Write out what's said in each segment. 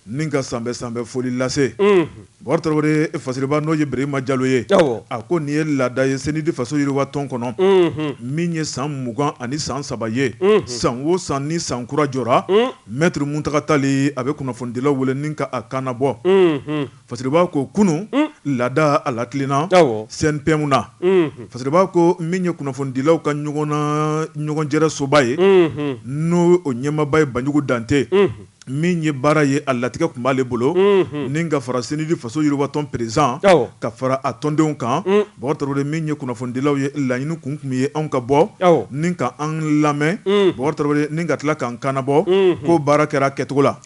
Ni ka sanbɛ sanbɛ foli lase bakari tarawele fasiriba n'o ye berema jalo ye a ko nin ye laada ye CNID faso yiriwa tɔn kɔnɔ min ye san mugan ani san saba ye san wo san ni san kura jɔra mɛtiri muntaga tali a bɛ kunnafonidilaw wele ni ka a kannabɔ Fasiriba ko kunun laada a latilenna CNPM na Fasiriba ko min ye kunnafonidilaw ka ɲɔgɔnjɛrɛ soba ye n'o o ɲɛmaaba ye banjugu dante min ye baara ye a latigɛ tun b'ale bolo ni ka fara CNID faso yiriwatɔn peresidan ka fara a tɔndenw kan bakari min ye kunnafonidilaw ye laɲini kun tun ye anw ka bɔ ni ka an lamɛn bakari ni ka tila k'an kannabɔ ko baara kɛra kɛcogo la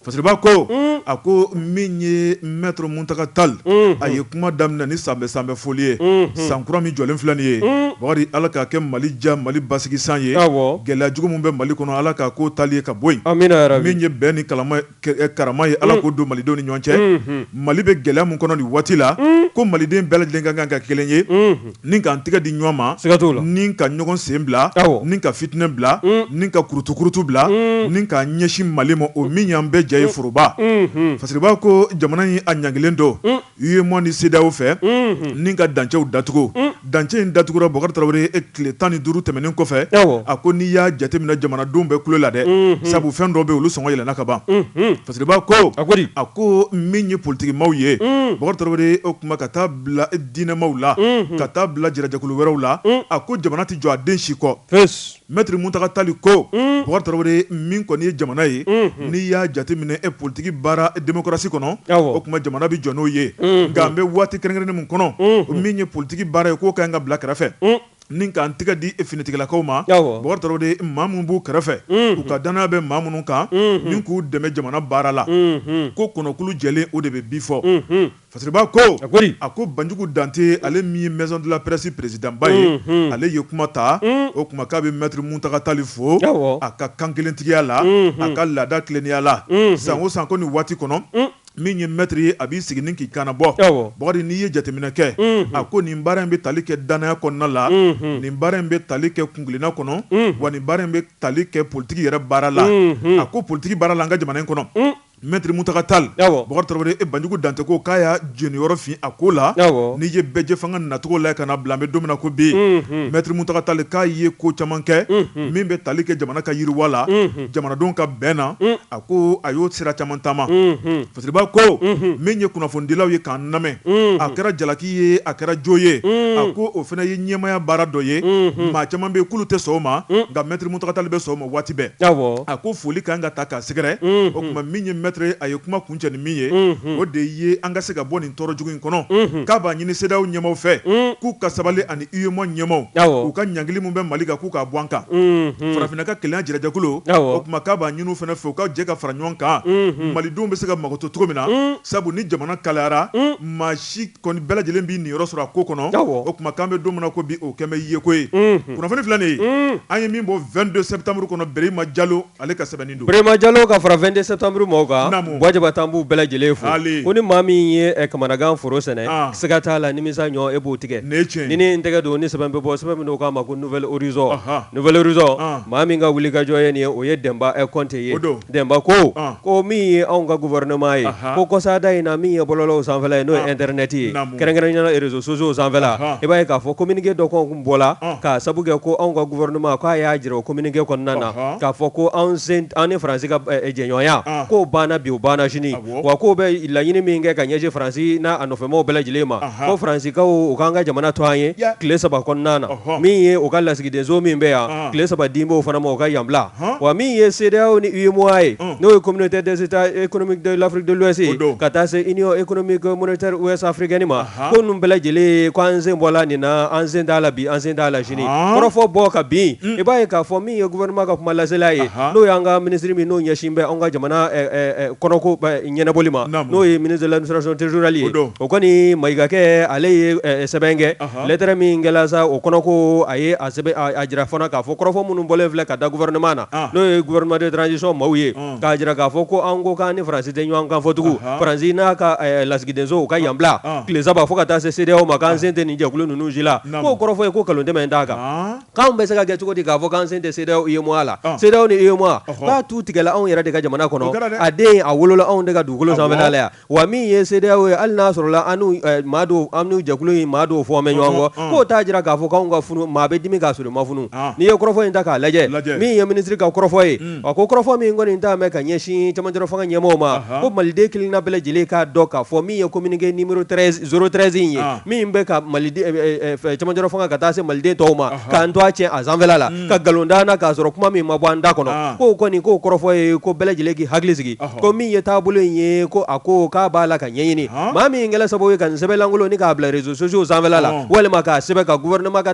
Fasiriba ko a ko min ye mɛtiri muntaga tali a ye kuma daminɛ ni sanbɛ sanbɛ foli ye san kura min jɔlen filɛ nin ye bakari ala k'a kɛ mali ja mali basigi san ye gɛlɛya jugu min bɛ mali kɔnɔ ala k'a ko tali ye ka bɔ yen min ye bɛn ni karama ye ala k'o don malidenw ni ɲɔgɔn cɛ mali bɛ gɛlɛya min kɔnɔ nin waati la ko maliden bɛɛ lajɛlen ka kan ka kelen ye Ni k'an tɛgɛ di ɲɔgɔn ma ni ka ɲɔgɔn sen bila ni ka fitinɛ bila ni ka kurutukurutu bila ni k'an ɲɛsin mali ma o min y'an bɛɛ jɛ ye foroba fasiriba ko jamana in a ɲangilen don UEMOA ni CEDEAO fɛ ni ka dancɛw datugu dancɛ in datugura bakari tarawele tile tan ni duuru tɛmɛnen kɔfɛ a ko n'i y'a jateminɛ jamanadenw bɛɛ kulola dɛ sabu fɛn dɔ bɛ olu sɔngɔ yɛlɛnna ka ban fasiriba ko a ko min ye politigi maaw ye o tuma ka taa bila diinɛmaw la ka taa bila jɛrɛjɛkulu wɛrɛw la a ko jamana tɛ jɔ a den si kɔ mɛtiri muntaga tali ko bakari tarawele min kɔni ye jamana ye n'i y'a jateminɛ politigi baara demokarasi kɔnɔ o tuma jamana bɛ jɔ n'o ye nka an bɛ waati kɛrɛnkɛrɛnnen min kɔnɔ min ye politigi baara ye k'o ka kan ka bila kɛrɛfɛ ni k'an tɛgɛ di finitigilakaw ma bakari maa minnu b'u kɛrɛfɛ u ka dannaya bɛ maa minnu kan ni k'u dɛmɛ jamana baara la ko kɔnɔkulu jɛlen o de bɛ bi fɔ Fasiriba ko a ko banjugu dante ale min ye maison de la presse peresidanba ye ale ye kuma ta o kuma k'a bɛ mɛtiri muntaga tali fo a ka kankelentigiya la a ka laada tilennenya la san o san ko nin waati kɔnɔ min ye mɛtiri ye a b'i sigi ni k'i kannabɔ bakari n'i ye jateminɛ kɛ a ko nin baara in bɛ tali kɛ dannaya kɔnɔna la nin baara in bɛ tali kɛ kuntilenna kɔnɔ wa nin baara in bɛ tali kɛ politigi yɛrɛ baara la a ko politigi baara la an ka jamana in kɔnɔ Maitre Muntaka Tall, awɔ, Bukari Tarawele e Banjugu Dantɛ ko k'a y'a jeniyɔrɔ fin a ko la, awɔ, n'i ye bɛɛjɛfanga nacogo lajɛ ka n'a bila an bɛ don min na ko bi, unhun, Maitre Muntaka Tall k'a ye ko caman kɛ, unhun, min bɛ tali kɛ jamana ka yiriwa la, unhun, jamanadenw ka bɛn na, un, a ko a y'o sira caman taama, unhun, fitiriba ko, unhun, min ye kunnafonidilaw ye k'an lamɛn, unhun, a kɛra jalaki ye a kɛra jo ye, un, a ko o fana ye ɲɛmaaya baara dɔ ye, unhun, maa caman bɛ yen k'olu tɛ sɔn o ma, un, nka Maitre Muntaka Tall bɛ sɔn o ma. waati bɛɛ a ko foli ka kan ka taa k'a sɛgɛrɛ o kuma min ye Maitre a ye kuma kuncɛ ni min ye o de ye an ka se ka bɔ nin tɔɔrɔ jugu in kɔnɔ k'a b'a ɲini CEDEAO ɲɛmaaw fɛ k'u ka sabali ani UEMOA ɲɛmaaw u ka ɲangili min bɛ mali kan k'u k'a bɔ an kan farafinna ka kelenya jɛrɛjɛkulu o kuma k'a b'a ɲini u fana fɛ u ka jɛ ka fara ɲɔgɔn kan malidenw bɛ se ka makoto cogo min na sabu ni jamana kalayara maa si kɔni bɛɛ lajɛlen b'i niyɔrɔ sɔrɔ a ko kɔnɔ o kuma k'an bɛ don min na ko bi o kɛlen bɛ yeko ye kunnafoni filɛ nin ye an ye min bɔ vingt-deux septembre kɔnɔ Brehima Jalo ale ka sɛbɛn don Brehima Jalo ka fara vingt-deux septembre maaw kan wajaba tan b'u bɛɛ lajɛlen fo ko ni maa min ye kamanagan foro sɛnɛ siga t'a la nimisa ɲɔ e b'o tigɛ ni cɛ ni n tɛgɛ don ni sɛbɛn bɛ bɔ sɛbɛn min k'a ma ko Nouvel Horizon Nouvel Horizon maa min ka wulikajɔ ye nin o ye Denba Kɔnte ye Denba ko ko min ye anw ka gouvernement ye ko kɔsada in na min ye bɔlɔlɔw sanfɛla ye n'o ye internet ye kɛrɛnkɛrɛnya la réseaux sociaux sanfɛla i b'a ye k'a fɔ communiqué dɔ kun bɔla k'a sabu kɛ ko anw ka gouvernement k'a y'a jira o communiqué kɔnɔna na k'a fɔ ko anw sen an ni France ka jɛɲɔgɔnya k'o banna bi o banna sini wa k'u bɛ laɲini min kɛ ka ɲɛsin faransi n'a nɔfɛmaw bɛɛ lajɛlen ma ko Faransikaw u k'an ka jamana to an ye tile saba kɔnɔna na min ye u ka lasigidenso min bɛ yan tile saba dilen b'o fana ma u ka yan bila wa min ye CEDEAO ni UEMOA ye n'o ye Communauté des États économiques de l'Afrique de l'Ouest ka taa se Union économique monétaire ouest africaine ma ko ninnu bɛɛ lajɛlen ko an sen bɔla nin na an sen t'a la bi an sen t'a la sini kɔrɔfɔ bɔ ka bin i b'a ye k'a fɔ min ye gouvernement ka kuma lasela ye n'o y'an ka ministre min n'o ɲɛsin bɛ anw ka jamana kɔnɔko ɲɛnabɔli ma n'o ye ministre de l'administration territoriale ye o kɔni Mayigakɛ ale ye sɛbɛn kɛ lettre min kɛla sa o kɔnɔ ko a ye a sɛbɛn a jira fana k'a fɔ kɔrɔfɔ minnu bɔlen filɛ ka da gouvernement na n'o ye gouvernement de transition maaw ye k'a jira k'a fɔ ko an ko k'an ni Faransi tɛ ɲɔgɔn kan fɔ tugun, anhan, Faransi n'a ka lasigidenso u ka yan bila, ɔn, tile saba fo ka taa se CEDEAO ma k'an sen tɛ nin jɛkulu ninnu si la, naamu, k'o kɔrɔfɔ ye ko nkalon tɛmɛn t'a kan, ɔn, k'anw bɛ se ka kɛ cogo di k'a fɔ k'an sen tɛ CEDEAO, UEMOA la, ɔn, CEDEAO ni UEMOA, ɔhɔ, k'a tu tigɛla anw yɛrɛ de ka jamana kɔnɔ, o kɛra dɛ, a den a wolola anw de ka dugukolo sanfɛla la yan Wa min ye CEDEAO ye hali n'a sɔrɔla an n'o jɛkulu in maa dɔw fɔlen bɛ ɲɔgɔn kɔ k'o t'a jira k'a fɔ k'anw ka funu maa bɛ dimi k'a sɔrɔ ma funu n'i ye kɔrɔfɔ in ta k'a lajɛ min ye minisiri ka kɔrɔfɔ ye a ko kɔrɔfɔ min kɔni dalen bɛ ka ɲɛsin cɛmancɛ fanga ɲɛmɔgɔw ma ko maliden kelenna bɛɛ lajɛlen k'a dɔn k'a fɔ min ye communiqué numéro zéro treize in ye min bɛ ka cɛmancɛ fanga ka taa se maliden tɔw ma k'an to a cɛ a sanfɛla la ka nkalon da an na k'a sɔrɔ kuma min ma bɔ an da kɔnɔ k'o kɔni k'o kɔrɔfɔ ye ko bɛɛ lajɛlen k'i hakili sigi ko min ye taabolo in ye ko a ko k'a b'a la ka ɲɛɲini maa min kɛla sababu ye ka nin sɛbɛn lankolon nin k'a bila réseaux sociaux sanfɛla la walima k'a sɛbɛn ka gouvernement ka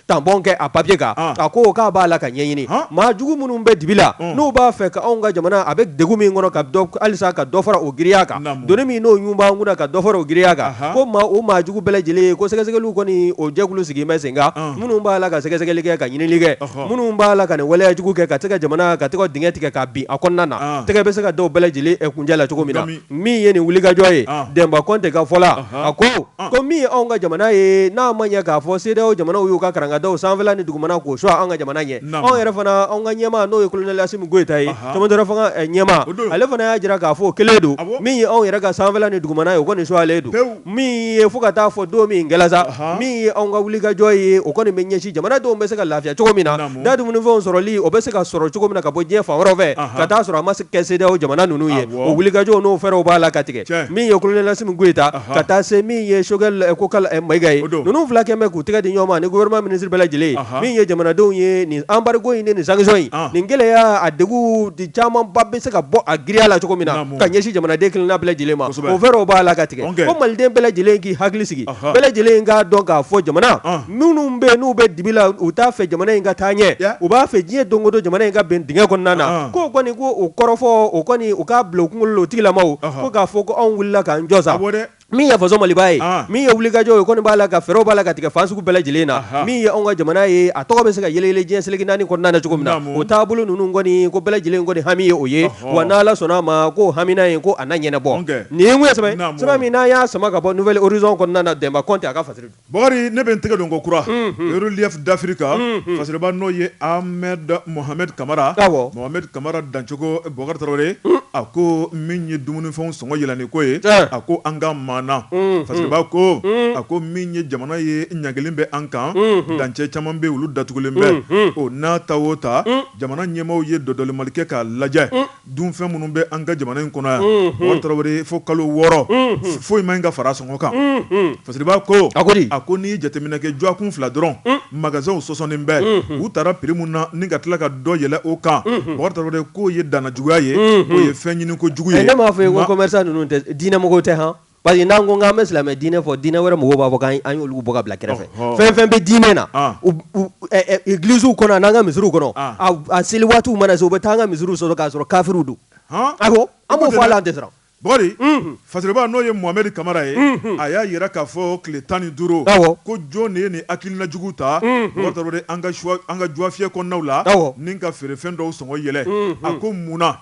tampon kɛ a papier kan a ko k'a b'a la ka ɲɛɲini maa jugu minnu bɛ dibi la n'u b'a fɛ ka anw ka jamana a bɛ degun min kɔnɔ ka dɔ halisa ka dɔ fara o giriya kan doni min n'o ɲun b'an kunna ka dɔ fara o giriya kan ko maa o maa jugu bɛɛ lajɛlen ko sɛgɛsɛgɛliw kɔni o jɛkulu sigilen bɛ sen kan minnu b'a la ka sɛgɛsɛgɛli kɛ ka ɲinili kɛ minnu b'a la ka nin waleya jugu kɛ ka se ka jamana ka tɛgɛ dingɛ tigɛ ka bin a kɔnɔna na tɛgɛ bɛ se ka d'u bɛɛ lajɛlen kuncɛ la cogo min na min ye nin wulikajɔ ye Denba Kɔnte ka fɔ la a ko ko min ye anw ka jamana ye n'a ma ɲɛ k'a fɔ CEDEAO jamanaw y'u ka karangadaw sanfɛ ni dugumana k'o sɔgɔ an ka jamana ɲɛ anw yɛrɛ fana anw ka ɲɛmaa n'o ye colonel Assimi Goïta ye cɛmancɛ fanga ɲɛmaa ale fana y'a jira k'a fɔ o kelen don min ye anw yɛrɛ ka sanfɛ ni dugumana ye o kɔni sɔgɔlen don min ye fo ka taa fɔ don min gɛlɛ sa min ye anw ka wulikajɔ ye o kɔni bɛ ɲɛsin jamanadenw bɛ se ka lafiya cogo min na da dumunifɛnw sɔrɔli o bɛ se ka sɔrɔ cogo min na ka bɔ diɲɛ fan wɛrɛ fɛ ka t'a sɔrɔ a ma kɛ CEDEAO jamana ninnu ye o wulikajɔ n'o fɛɛrɛw b'a la ka tigɛ min ye colonel Assimi Goïta ka taa se min ye Choguel Kokalla Maïga ye ninnu fila kɛlen bɛ k'u tɛgɛ di ɲɔgɔn ma ni gouvernement minisiri bɛɛ lajɛlen min ye jamanadenw ye nin embargo in nin sanction in nin gɛlɛya a degun camanba bɛ se ka bɔ a giriya la cogo min na ka ɲɛsin jamanaden kelenna bɛɛ lajɛlen ma o fɛɛrɛw b'a la ka tigɛ ko maliden bɛɛ lajɛlen k'i hakili sigi bɛɛ lajɛlen k'a dɔn k'a fɔ jamana minnu bɛ n'u bɛ dibi la u t'a fɛ jamana in ka taa ɲɛ u b'a fɛ diɲɛ don o don jamana in ka bin dingɛ kɔnɔna na k'o kɔni ko o kɔrɔfɔ o kɔni u k'a bila u kunkolo la o tigilamaw ko k'a fɔ ko anw wulila k'an jɔ sa min ye faso maliba ye ah. min ye wulikajɔ ye kɔni b'a la ka fɛɛrɛw b'a la ka tigɛ fan sugu bɛɛ lajɛlen na min ye anw ka jamana ye a tɔgɔ bɛ se ka yɛlɛyɛlɛ diɲɛ seleke naani kɔnɔna na cogo min na o taabolo ninnu kɔni ko bɛɛ lajɛlen kɔni hami ye o ye wa n'ala sɔnna a ma ko hamina ye ko a na ɲɛnabɔ nin tun ye sɛbɛn sɛbɛn min n'an y'a sama ka bɔ Nouvel Horizon kɔnɔna na Denba Kɔnte a ka fasiri don Bakari ne bɛ n tɛgɛ don kokura Relief d'Afrique kan fasiriba n'o ye Ahmed Mohamed Kamara Mohamed Kamara dancogo Bakari Tarawele a ko min ye dumunifɛn sɔngɔ yɛlɛnni ko ye a ko an ka maana fasiriba ko a ko min ye jamana ye ɲangilen bɛ an kan dancɛ caman bɛ olu datugulen bɛ o n'a ta o ta jamana ɲɛmaaw ye dɔdɔlimali kɛ k'a lajɛ Dunfɛn minnu bɛ an ka jamana in kɔnɔ yan tarawele fo kalo wɔɔrɔ foyi man ɲi ka fara sɔngɔ kan fasiriba ko a a ko n'i ye jateminɛ kɛ jɔkun fila dɔrɔn magasinw sɔsɔnen bɛ u tara prix mun na ni ka tila ka dɔ yɛlɛ o kan tarawele k'o ye danna juguya ye o ye fɛn ɲini ko jugu ye ne m'a fɔ ye ko commerçant ninnu tɛ diinɛmɔgɔ tɛ h Parce que n'an ko an bɛ silamɛ diinɛ fɔ diinɛ wɛrɛ mɔgɔw b'a fɔ an y'olu bɔ ka bila kɛrɛfɛ fɛn fɛn bɛ diinɛ na egiliziw kɔnɔ an'an ka misiriw kɔnɔ a seli waati mana se u bɛ taa an ka misiriw sɔrɔ k'a sɔrɔ kafiriw don awɔ an b'o fɔ a la an tɛ siran bakari fasiriba n'o ye Mohamed Kamara ye a y'a jira k'a fɔ tile tan ni duuru ko jɔn de ye nin hakilina jugu ta an ka juwafiyɛ kɔnɔnaw la ni ka feerefɛn dɔw sɔngɔ yɛlɛ a ko munna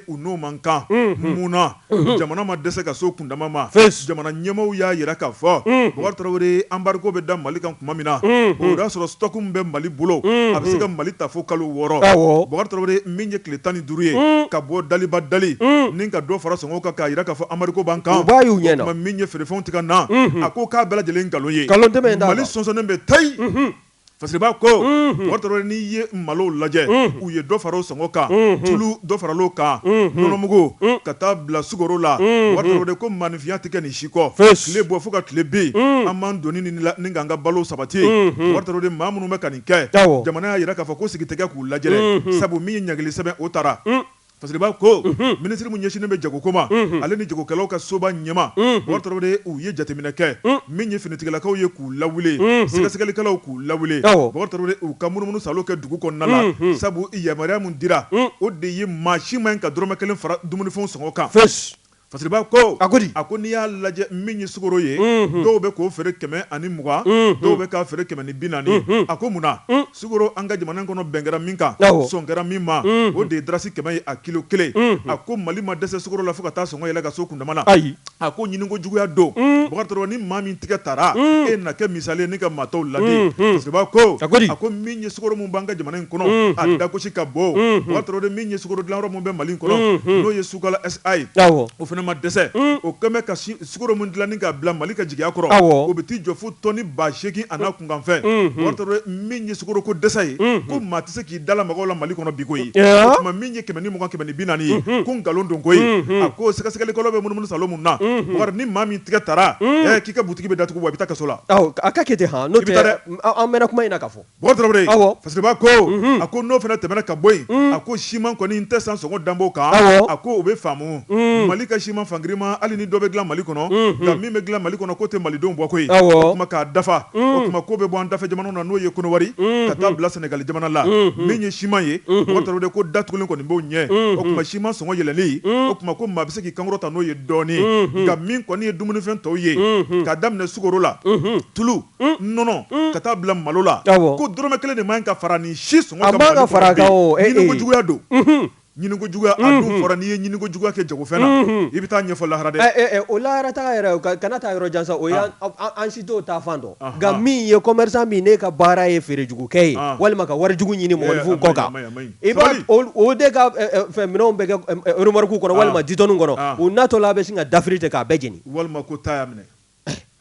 u n'o man kan mun jamana ma dɛsɛ ka s'o kundama ma jamana ɲɛmaaw y'a jira k'a fɔ Bokari Tarawele embargo bɛ da mali kan tuma min na o y'a sɔrɔ stock min bɛ mali bolo a bɛ se ka mali ta fo kalo wɔɔrɔ Bokari Tarawele min ye tile tan ni duuru ye ka bɔ daliba dalen ni ka dɔ fara sɔngɔ kan k'a jira k'a fɔ embargo b'an kan min ye feerefɛnw tɛ ka na a ko k'a bɛɛ lajɛlen nkalon ye mali sɔnsɔnnen bɛ tayi Fasiriba ko Bokari Tarawele n'i ye malo lajɛ u ye dɔ fara o sɔngɔ kan tulu dɔ faral'o kan nɔnɔmugu ka taa bila sukoro la Bokari Tarawele ko maaninfinya tɛ kɛ nin si kɔ tile bɔ fo ka tile bin an m'an doni ni k'an ka balo sabati Bokari Tarawele maa minnu bɛ ka nin kɛ jamana y'a jira k'a fɔ ko sigi tɛ kɛ k'u lajɛ sabu min ye ɲangili sɛbɛn o taara Fasiriba ko, unhun, ministre min ɲɛsinnen bɛ jago ko ma, unhun, ale ni jagokɛlaw ka soba ɲɛmaa, unhun, Bokari Tarawele u ye jateminɛ kɛ, un, min ye finitigilakaw ye k'u lawuli, unhun, sɛgɛsɛgɛlikɛlaw k'u lawuli, awɔ, Bokari Tarawele u ka munumunu salo kɛ dugu kɔnɔna la, unhun, sabu yamaruya min dira, un, o de ye maa si man ɲi ka dɔrɔmɛ kelen fara dumunifɛnw sɔngɔ kan. Fosi. Fasiriba ko a a ko n'i y'a lajɛ min ye sukoro ye dɔw bɛ k'o feere kɛmɛ ani mugan dɔw bɛ k'a feere kɛmɛ ni bi naani a ko munna sukoro an ka jamana kɔnɔ bɛn kɛra min kan sɔn kɛra min ma o de ye darasi kɛmɛ ye a kilo kelen a ko mali ma dɛsɛ sukoro la fo ka taa sɔngɔ yɛlɛ ka s'o kundama na ayi a ko ɲininko juguya don o ni maa min tigɛ tara e na kɛ misali ye ni ka maa tɔw ladi fasiriba ko a a ko min ye sukoro min b'an ka jamana in kɔnɔ a dagosi ka bon o min ye sukoro dilanyɔrɔ min bɛ mali kɔnɔ Sukala SA awɔ o fana ma dɛsɛ un o kɛmɛ ka sukoro min dilanni k'a bila Mali ka jigiya kɔrɔ awɔ o bɛ t'i jɔ fo tɔni ba seegin an'a kunkanfɛn unhun Bokari Tarawele min ye sukoro ko dɛsɛ ye unhun ko maa tɛ se k'i da lamaga o la Mali kɔnɔ bi koyi o ɔɔ tuma min ye kɛmɛ ni mugan kɛmɛ ni bi naani ye unhun ko nkalon don koyi unhun a ko sɛgɛsɛgɛlikɛlaw bɛ munumunu salo min na unhun Bakari ni maa min tigɛ tara un ɛɛ k'i ka butigi bɛ datugu wa i bɛ taa kaso la awɔ a ka kɛ ten han n'o tɛ i bɛ taa dɛ an mɛɛnna kuma in na k'a fɔ Bokari Tarawele, awɔ, Fasiriba ko, unhun, a ko n'o fana tɛmɛna ka bɔ yen, un, a ko siman kɔni n tɛ san sɔngɔ danbɔ kan, awɔ, a ko o bɛ faamu, un, Mali ka siman fan girinman hali ni dɔ bɛ dilan Mali kɔnɔ, unhun, nka min bɛ dilan Mali kɔnɔ k'o tɛ malidenw bɔ koyi, awɔ, o tuma k'a dafa, un, o tuma k'o bɛ bɔ an dafɛjamanaw na n'o ye Konowari, unhun, ka taa bila Sɛnɛgali jamana la, unhun, min ye siman ye, unhun, Bokari Tarawele ko datugulen kɔni b'o ɲɛ, unhun, o tuma siman sɔngɔ yɛlɛnni, un, o tuma ko maa bɛ se k'i kankɔrɔta n'o ye dɔɔnin, unhun, nka min kɔni ye dumunifɛn tɔw ye, unhun, k'a daminɛ sukoro la, unhun, tulu nɔnɔ ka taa bila malo la ko dɔrɔmɛ kelen de man ka fara ni si sɔngɔ kan Mali kɔnɔ ɲiniko juguya don ɲiniko juguya a dun fɔra n'i ye ɲiniko juguya kɛ jagofɛn na i bɛ taa ɲɛfɔ lahara dɛ o lahara ta yɛrɛ kana taa yɔrɔ jan sa o an si t'o ta fan dɔn nka min ye commerçant min ne ka baara ye feerejugukɛ ye walima ka warijugu ɲini mɔgɔninfin kɔ kan i o de ka fɛn minɛnw bɛ remorque kɔnɔ walima ditɔnniw kɔnɔ u natɔla a bɛ sin ka dafiri ten k'a bɛɛ jeni walima ta y'a minɛ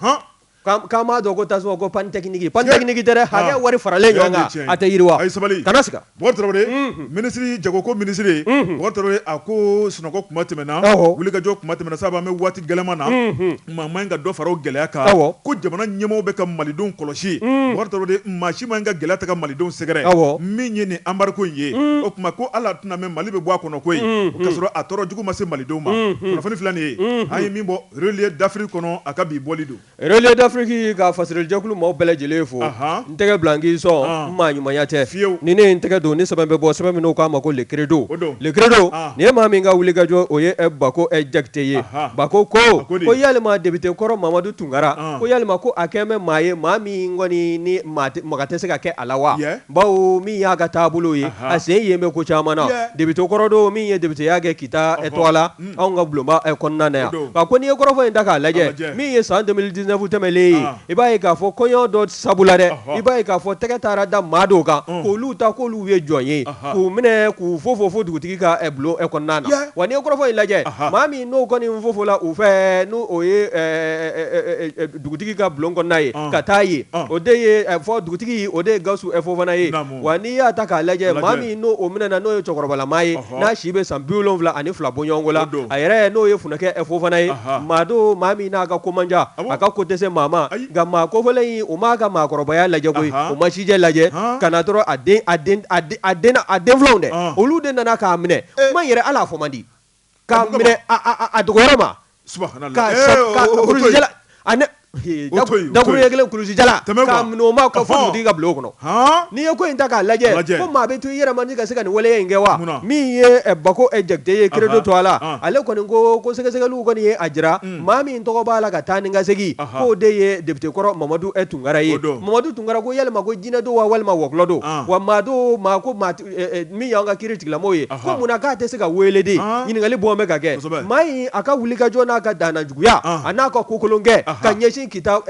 hɔn k'an m'a dɔn ko tasuma ko panne technique panne technique tɛ dɛ ah. hakɛ wari faralen ɲɔgɔn kan a tɛ yiriwa a ye sabali kana siga Bukari Tarawele mhm. minisiri jagoko minisiri mhm. Bukari Tarawele a ko sunɔgɔ kuma tɛmɛna wulikajɔ kuma tɛmɛna sabu an bɛ waati gɛlɛman na mhm. maa man ɲi ka dɔ fara o gɛlɛya kan ko jamana ɲɛmɔgɔw bɛ ka malidenw kɔlɔsi Bukari Tarawele maa si man ɲi ka gɛlɛya ta ka malidenw sɛgɛrɛ min ye nin embargo in ye o tuma ko hali a tɛna mɛn Mali bɛ bɔ a kɔnɔ koyi k'a sɔrɔ a tɔɔrɔ jugu ma se malidenw ma kunnafoni filɛ nin ye an ye min bɔ Relier d'Afrique kɔnɔ a ka bi bɔli don. Relier d'Afrique ka fasirijɛkulu maaw bɛɛ lajɛlen fo. Ahan. N tɛgɛ bila n k'i sɔn. Ɔn! N maa ɲumanya tɛ. Fiyewu! Ni ne ye n tɛgɛ don, ni sɛbɛn bɛ bɔ, sɛbɛn min n'u k'a ma ko le credo. O don. Le credo, An! nin ye maa min ka wulikajɔ, o ye Bako Jakite ye. Ahan! Bako ko, A ko de. ko yalima depite kɔrɔ Mamadu Tunkara, An! ko yalima ko a kɛn bɛ maa ye, maa min kɔni ni maa tɛ, maga tɛ se ka kɛ a la wa? Yɛ! Bawo min y'a ka taabolo ye, Ahan! a sen yen bɛ ko caman na. Yɛ! Depite kɔrɔ don, min ye depiteya kɛ Kita Ɔhɔ! tɔgɔ la. anw ka bulonba ɛ kɔnɔna na yan, o don, nka ko n'i ye kɔrɔfɔ in ta k'a lajɛ, a lajɛ, min ye san 2019 tɛmɛnen ye, an, i b'a ye k'a fɔ kɔɲɔ dɔ sabu la dɛ, ɔhɔ, i b'a ye k'a fɔ tɛgɛ taara da maa dɔw kan, un, k'olu ta k'olu ye jɔn ye, anhan, k'u minɛ k'u fofo fo dugutigi ka ɛ bulon ɛ kɔnɔna na, yɛ, wa n'i ye kɔrɔfɔ in lajɛ, anhan, maa min n'o kɔni fofola u fɛ n'o o ye ɛ ɛ ɛ dugutigi ka bulon kɔnɔna ye, ɔn, ka taa yen, ɔn, o de ye ɛ fɔ dugutigi o de ye Gawusu ɛ Fofana ye, naamu. wa n'i y'a ta k'a lajɛ maa min n'o o minɛna n'o ye cɛkɔrɔbalama ye n'a si bɛ san bi wolonwula ani fila bɔ ɲɔgɔn la a yɛrɛ n'o ye funɛkɛ fofana ye maa don maa min n'a ka ko man ca a ka ko tɛ se maa ma nka maa kofɔlen in u m'a ka maakɔrɔbaya lajɛ koyi u m'a sijɛ lajɛ ka na dɔrɔn a den a den fila dɛ olu de nana k'a minɛ kuma yɛrɛ ala fɔ man di k'a minɛ a dɔgɔyɔrɔ ma dakuruɲɛ kelen kulusijala k'a minɛ o ma ka fɔ dugutigi ka bulon kɔnɔ n'i ye ko in ta k'a lajɛ ko maa bɛ to i yɛrɛ ma ka se ka nin waleya in kɛ wa min ye bako jakite ye credo tɔgɔ la ale kɔni ko ko sɛgɛsɛgɛli kɔni ye a jira maa min tɔgɔ b'a la ka taa ni ka segin k'o de ye depite kɔrɔ mamadu ɛ tunkara ye mamadu tunkara ko yalima ko jinɛ don wa walima wɔkulɔ don wa maa don maa ko maa min y'an ka kiritigilamaa ye ko munna k'a tɛ se ka weele de ɲininkali bɔlen bɛ ka kɛ maa in a ka wulikajɔ n'a ka dannajuguya a n'a ka kokolonkɛ ka ɲɛsin kita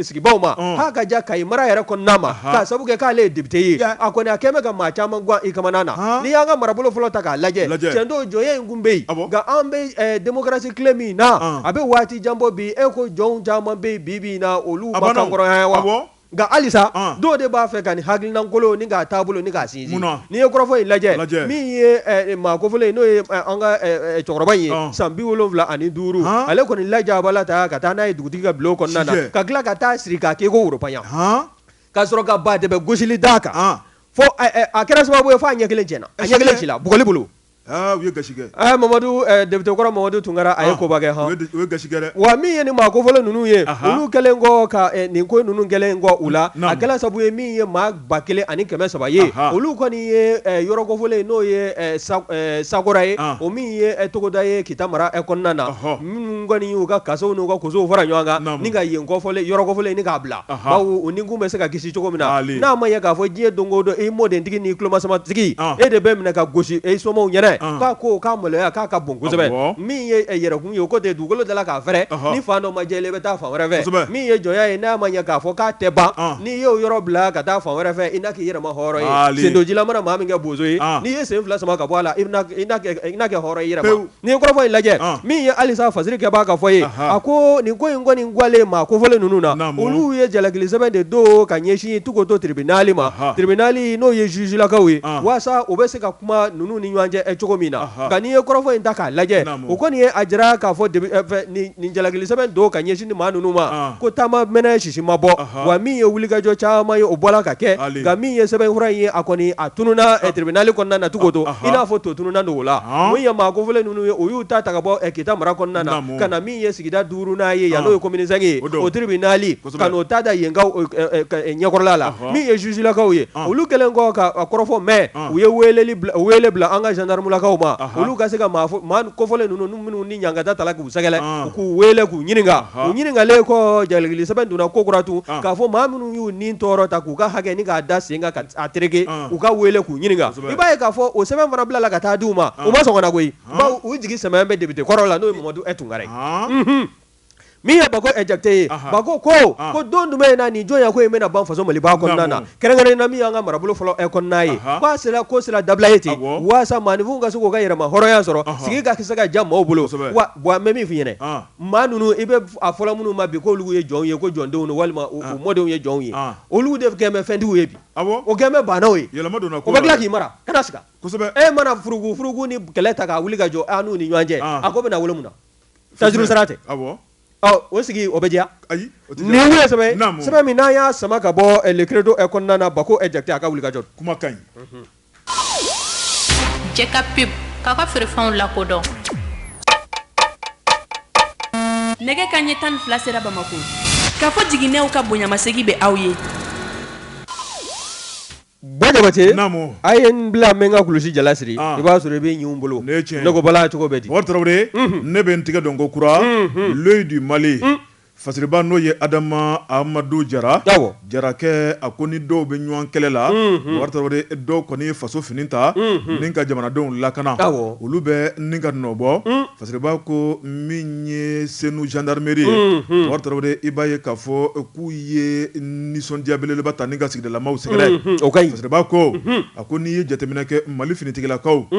sigibaaw ma k'a ka jan kayi mara yɛrɛ kɔnɔna ma k'a sabu kɛ k'ale ye député ye a kɔni a kɛlen bɛ ka maa caman gan i kamana na n'i y'an ka marabolo fɔlɔ ta k'a lajɛ tiɲɛ don jɔnya in tun bɛ yen nka an bɛ démocratie tile min na a bɛ waati jan bɔ bi e ko jɔn caman bɛ yen bi na olu ma kanhɔrɔnya wa Nka halisa dɔw de b'a fɛ ka nin hakilinakolon ni k'a taabolo ni k'a sinsin, munna, n'i ye kɔrɔfɔ in lajɛ, lajɛ, min ye maa kofɔlen ye n'o ye an ka cɛkɔrɔba in ye, ɔn, san bi wolonwula ani duuru, han, ale kɔni lajabala ta ka taa n'a ye dugutigi ka bulon kɔnɔna na, sijɛ, ka tila ka t'a siri k'a kɛ i ko woropanyɛ, han, ka sɔrɔ ka badɛbɛ gosili d'a kan, an, fɔ a kɛra sababu ye fɔ a ɲɛ kelen cɛnna, a ɲɛ kelen cila bugɔli bolo. Aa u ye gasi kɛ, aa Mamadu député kɔrɔ Mamadu Tunkara a ye koba kɛ han, u ye gasi kɛ dɛ, wa min ye nin maa kofɔlen ninnu ye, anhan, olu kɛlen kɔ ka nin ko ninnu kɛlen kɔ u la, naamu, a kɛra sabu ye min ye maa ba kelen ani kɛmɛ saba ye, anhan, olu kɔni ye yɔrɔ kofɔlen n'o ye Sakora ye, an, o min ye togoda ye kita mara kɔnɔna na, ɔhɔ, minnu kɔni y'u ka kasow n'u ka kosow fara ɲɔgɔn kan, naamu, ni ka yen kofɔlen yɔrɔ kofɔlen nin k'a bila bawo u ni kun bɛ se ka kisi cogo min na n'a ma ɲɛ k'a fɔ diɲɛ don o don i mɔdentigi ni tulomasamatigi e de bɛ minɛ ka gosi e somaw ɲɛna k'a ko k'a maloya k'a ka bon kosɛbɛ min ye yɛrɛkun ye o ko ten dugukolo dala k'a fɛrɛ ni fan dɔ ma jɛ i bɛ taa fan wɛrɛ fɛ min ye jɔnya ye n'a ma ɲɛ k'a fɔ k'a tɛ ban n'i y'o yɔrɔ bila ka taa fan wɛrɛ fɛ i na kɛ yɛrɛmahɔrɔn ye sendonjila mana maa min kɛ bozo ye n'i ye sen fila sama ka bɔ a la i na kɛ hɔrɔn i yɛrɛ N'i ye kɔrɔfɔ in lajɛ min ye halisa fasirikɛbaa ka fɔ ye a ko nin ko in kɔni gwalen maa kofɔlen ninnu na olu ye jalakilisɛbɛn de don ka ɲɛsin tukoto tiribinali ma tiribinali n'o ye zuzulakaw ye walasa u bɛ se ka kuma ninnu ni ɲɔgɔn cɛ cogo min na nka n'i ye kɔrɔfɔ in ta k'a lajɛ o kɔni ye a jira k'a fɔ nin jalakilisɛbɛn don ka ɲɛsin ni maa ninnu ma ko taama m si ma bɔ wa min ye wulikajɔ caman ye o bɔra ka kɛ nka min ye sɛbɛnfura ye a kɔni a tununa tiribinali kɔnɔna na na cogo don i n'a fɔ to tununa dogo la min ye maa kofɔlen ninnu ye o y'u ta ka bɔ kita mara kɔnɔna na ka na min ye sigida duurunan ye yan n'o ye komini sɛnki ye o tiribinali ka n'o ta da yenkaw ɲɛkɔrɔla la min ye zuzulakaw ye olu kɛlen kɔ ka kɔrɔfɔ mɛn u ye wele bila an ka zandaramulakaw ma olu ka se ka maa kofɔlen ninnu minnu ni ɲangata tala k'u sɛgɛrɛ k'u wele k'u ɲininka u ɲininkalen kɔ jalakilisɛbɛn donna ko kura tun k'a fɔ maa minnu y'u ni tɔɔrɔ ta k'u ka hakɛ ni k'a da sen kan k'a tereke u ka weele k'u ɲininka i b'a ye k'a fɔ o sɛbɛn fana bilala ka taa di u ma u ma sɔn ka na koyi bawo u jigi sɛmɛlen bɛ député kɔrɔ la n'o ye mamadu e tunkara ye Min ye Bako Jakite ye Bako ko don jumɛn na nin jɔnya ko in bɛna ban faso maliba kɔnɔna na kɛrɛnkɛrɛnnen na min y'an ka marabolo fɔlɔ e kɔnɔna ye k'a sera ko sera dabila e ten walasa maaninfinw ka se k'u ka yɛrɛma hɔrɔnya sɔrɔ sigi ka se ka diya maaw bolo wa n bɛ min f'i ɲɛna maa ninnu i bɛ a fɔlɔ minnu ma bi k'olu ye jɔnw ye ko jɔndenw don walima u mɔdenw ye jɔnw ye olu de kɛlen bɛ fɛntigiw ye bi o kɛlen bɛ baanaw ye o bɛ tila k'i mara e mana furugu furugu ni kɛlɛ ta k'a wuli ka jɔ n'u ni ɲɔgɔn cɛ a ko bɛna wolo mun na Tajurusara tɛ, awɔ, ɔ o sigi o bɛ diya, ayi, o tɛ diya, nin ye sɛbɛn ye, naamu, sɛbɛn min n'an y'a sama ka bɔ le credo kɔnɔna na Bako Jakite a ka wulikajɔ don, kuma ka ɲi. JK pub k'aw ka feerefɛnw lakodɔn. Nɛgɛ kanɲɛ tan ni fila sera Bamako. Kafo Jiginɛw ka bonyamasegin bɛ aw ye. Ba Jabate, naamu, a ye n bila n bɛ n ka kulusi jala siri, an, i b'a sɔrɔ i bɛ ɲin u bolo, nin ye tiɲɛ ye, ne ko bala cogo bɛ di? Umaru Tarawele, unhun, ne bɛ n tigɛ don kokura, unhun, l'oeil du Mali, un, fasiriba n'o ye Adama Amadu Jara, awɔ, Jarakɛ, a ko ni dɔw bɛ ɲɔgɔn kɛlɛ la, unhun, Umaru Tarawele, dɔw kɔni ye faso fini ta, unhun, ni ka jamanadenw lakana, awɔ, olu bɛ ni ka nɔbɔ, un. Fasiriba ko min ye senu zandameri ye bakari tarawele i b'a ye k'a fɔ k'u ye nisɔndiya belebeleba ta ni ka sigidalamaw sɛgɛrɛ o ka ɲi fasiriba ko a ko n'i ye jateminɛ kɛ mali finitigilakaw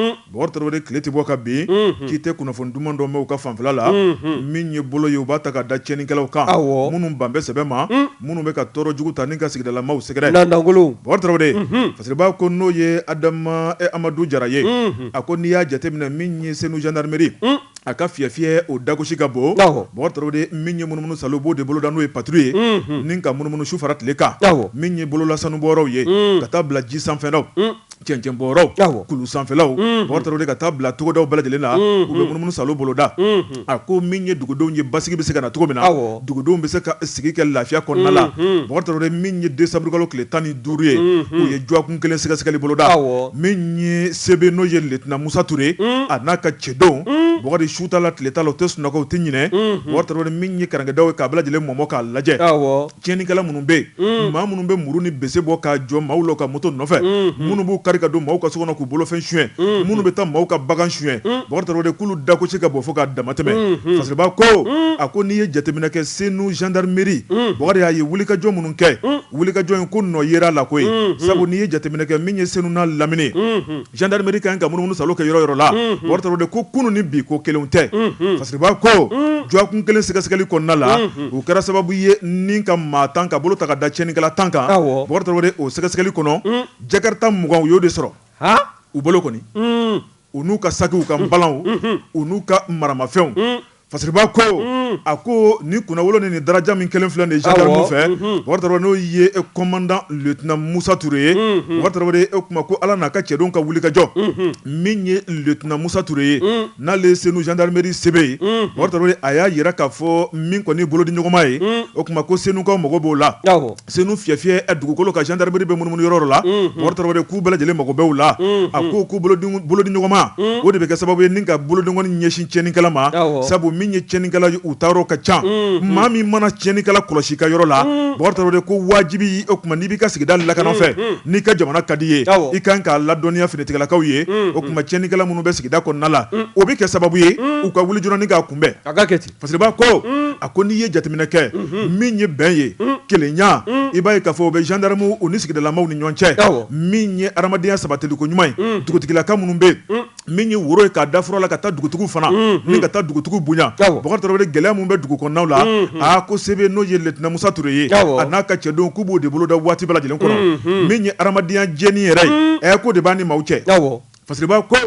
tarawele tile tɛ bɔ ka bin k'i tɛ kunnafoni duman dɔ mɛn u ka fanfɛla la min ye bolo ye u b'a ta ka da tiɲɛnikɛlaw kan minnu ban bɛ sɛbɛ ma minnu bɛ ka tɔɔrɔ jugu ta ni ka sigidalamaw sɛgɛrɛ dankolon tarawele fasiriba ko n'o ye adama amadu jara ye a ko n'i y'a jateminɛ min ye senu jandarimeri a ka fiyɛ fiyɛ o dagosi ka bon bakari tarawele min ye munumunu saalo b'o de boloda n'o ye patrouille ye ni ka munumunu su fara tile kan min ye bolola sanubɔyɔrɔw ye ka taa bila ji sanfɛlaw cɛncɛnbɔyɔrɔw kulu sanfɛlaw bakari tarawele ka taa bila togodaw bɛɛ lajɛlen la u bɛ munumunu saalo boloda a ko min ye dugudenw ye basigi bɛ se ka na cogo min na dugudenw bɛ se ka sigi kɛ lafiya kɔnɔna la bakari tarawele min ye desanburukalo tile tan ni duuru ye u ye dɔgɔkun kelen sɛgɛsɛgɛli boloda min ye CB n'o ye lieutenant musa ture ye a n'a ka cɛdenw bakari su t'a la tile t'a la u tɛ sunɔgɔ u tɛ ɲinɛ bakari tarawele min ye karankɛdaw ye k'a bɛɛ lajɛlen mɔmɔ k'a lajɛ Tiɲɛnikɛla minnu bɛ yen maa minnu bɛ muru ni bese bɔ k'a jɔ maaw la ka moto nɔfɛ minnu b'u kari ka don maaw ka so kɔnɔ k'u bolofɛn suɲɛ minnu bɛ taa maaw ka bagan suɲɛ bakari tarawele k'olu dagosi ka bon fo ka damatɛmɛ fasiriba ko a ko n'i ye jateminɛ kɛ senu zandameri bakari y'a ye wulikajɔ minnu kɛ wulikajɔ in ko nɔ yera a la koyi sabu n'i ye jateminɛ kɛ min ye senu n'a lamini Jandarimeri ka ka munumunu saalo kɛ yɔrɔ yɔrɔ la bakari tarawele ko kunun ni bi ko kelen tɛ fasiriba ko dɔgɔkun kelen sɛgɛsɛgɛli kɔnɔna la u kɛra sababu ye ni ka maa tan ka bolo ta ka da tiɲɛnikɛla tan kan bakari tarawele o sɛgɛsɛgɛli kɔnɔ jakarita mugan u y'o de sɔrɔ u bolo kɔni u n'u ka sakiw u ka balanw u n'u ka maramafɛnw Fasiriba ko a ko ni kunnawolo ni daraja min kɛlen filɛ nin gendarme fɛ Bɔkari n'o ye e commandant lieutenant Musa Ture ye Bɔkari o kuma ko ala n'a ka cɛdenw ka wulikajɔ min ye lieutenant Musa Ture ye n'ale Senu gendarmerie sebe ye Bɔkari a y'a yira k'a fɔ min kɔni bolodiɲɔgɔnma ye o kuma ko Senukaw mago b'o la Senu fiyɛfiyɛ ɛ dugukolo kan gendarmerie bɛ munumunu yɔrɔ o yɔrɔ la, unhun, Bɔkari k'u bɛɛ lajɛlen mago bɛ u la, unhun, a ko ko bolodiɲɔgɔnma, un, o de bɛ kɛ sababu ye ni ka bolodenkɔni ɲɛsin tiɲɛnikɛla ma, awɔ, sabu min ye tiɲɛnikɛla ye u taayɔrɔ ka ca, unhun, maa min mana tiɲɛnikɛla kɔlɔsi i ka yɔrɔ la, un, Bɔkari ko wajibi o kuma n'i b'i ka sigida lakana o fɛ, unhun, n'i ka jamana ka d'i ye, awɔ, i ka kan k'a ladɔnniya finitigilakaw ye, unhun, o kuma tiɲɛnikɛla minnu bɛ sigida kɔnɔna la, un, o bɛ kɛ sababu ye, un, u ka wuli joona ni k'a kunbɛn, a ka kɛ ten. Fasiriba ko a ko n'i ye jateminɛ kɛ min ye bɛn ye kelenya i b'a ye k'a fɔ o bɛ gendarmew ni sigidalamaw ni ɲɔgɔn cɛ min ye adamadenya sabatiliko ɲuman ye dugutigilakaw minnu bɛ min ye woro ye k'a da fura la ka taa dugutigi fana min ka taa dugutigi bonya Bɔkari gɛlɛya minnu bɛ dugu kɔnɔnaw la a ko sebe n'o ye lieutenant Musa Ture ye a n'a ka cɛdenw k'u b'o de boloda waati bɛɛ lajɛlen kɔnɔ min ye adamadenya jɛni yɛrɛ ye ɛ ko de b'a ni mɔgɔw cɛ Fasiriba ko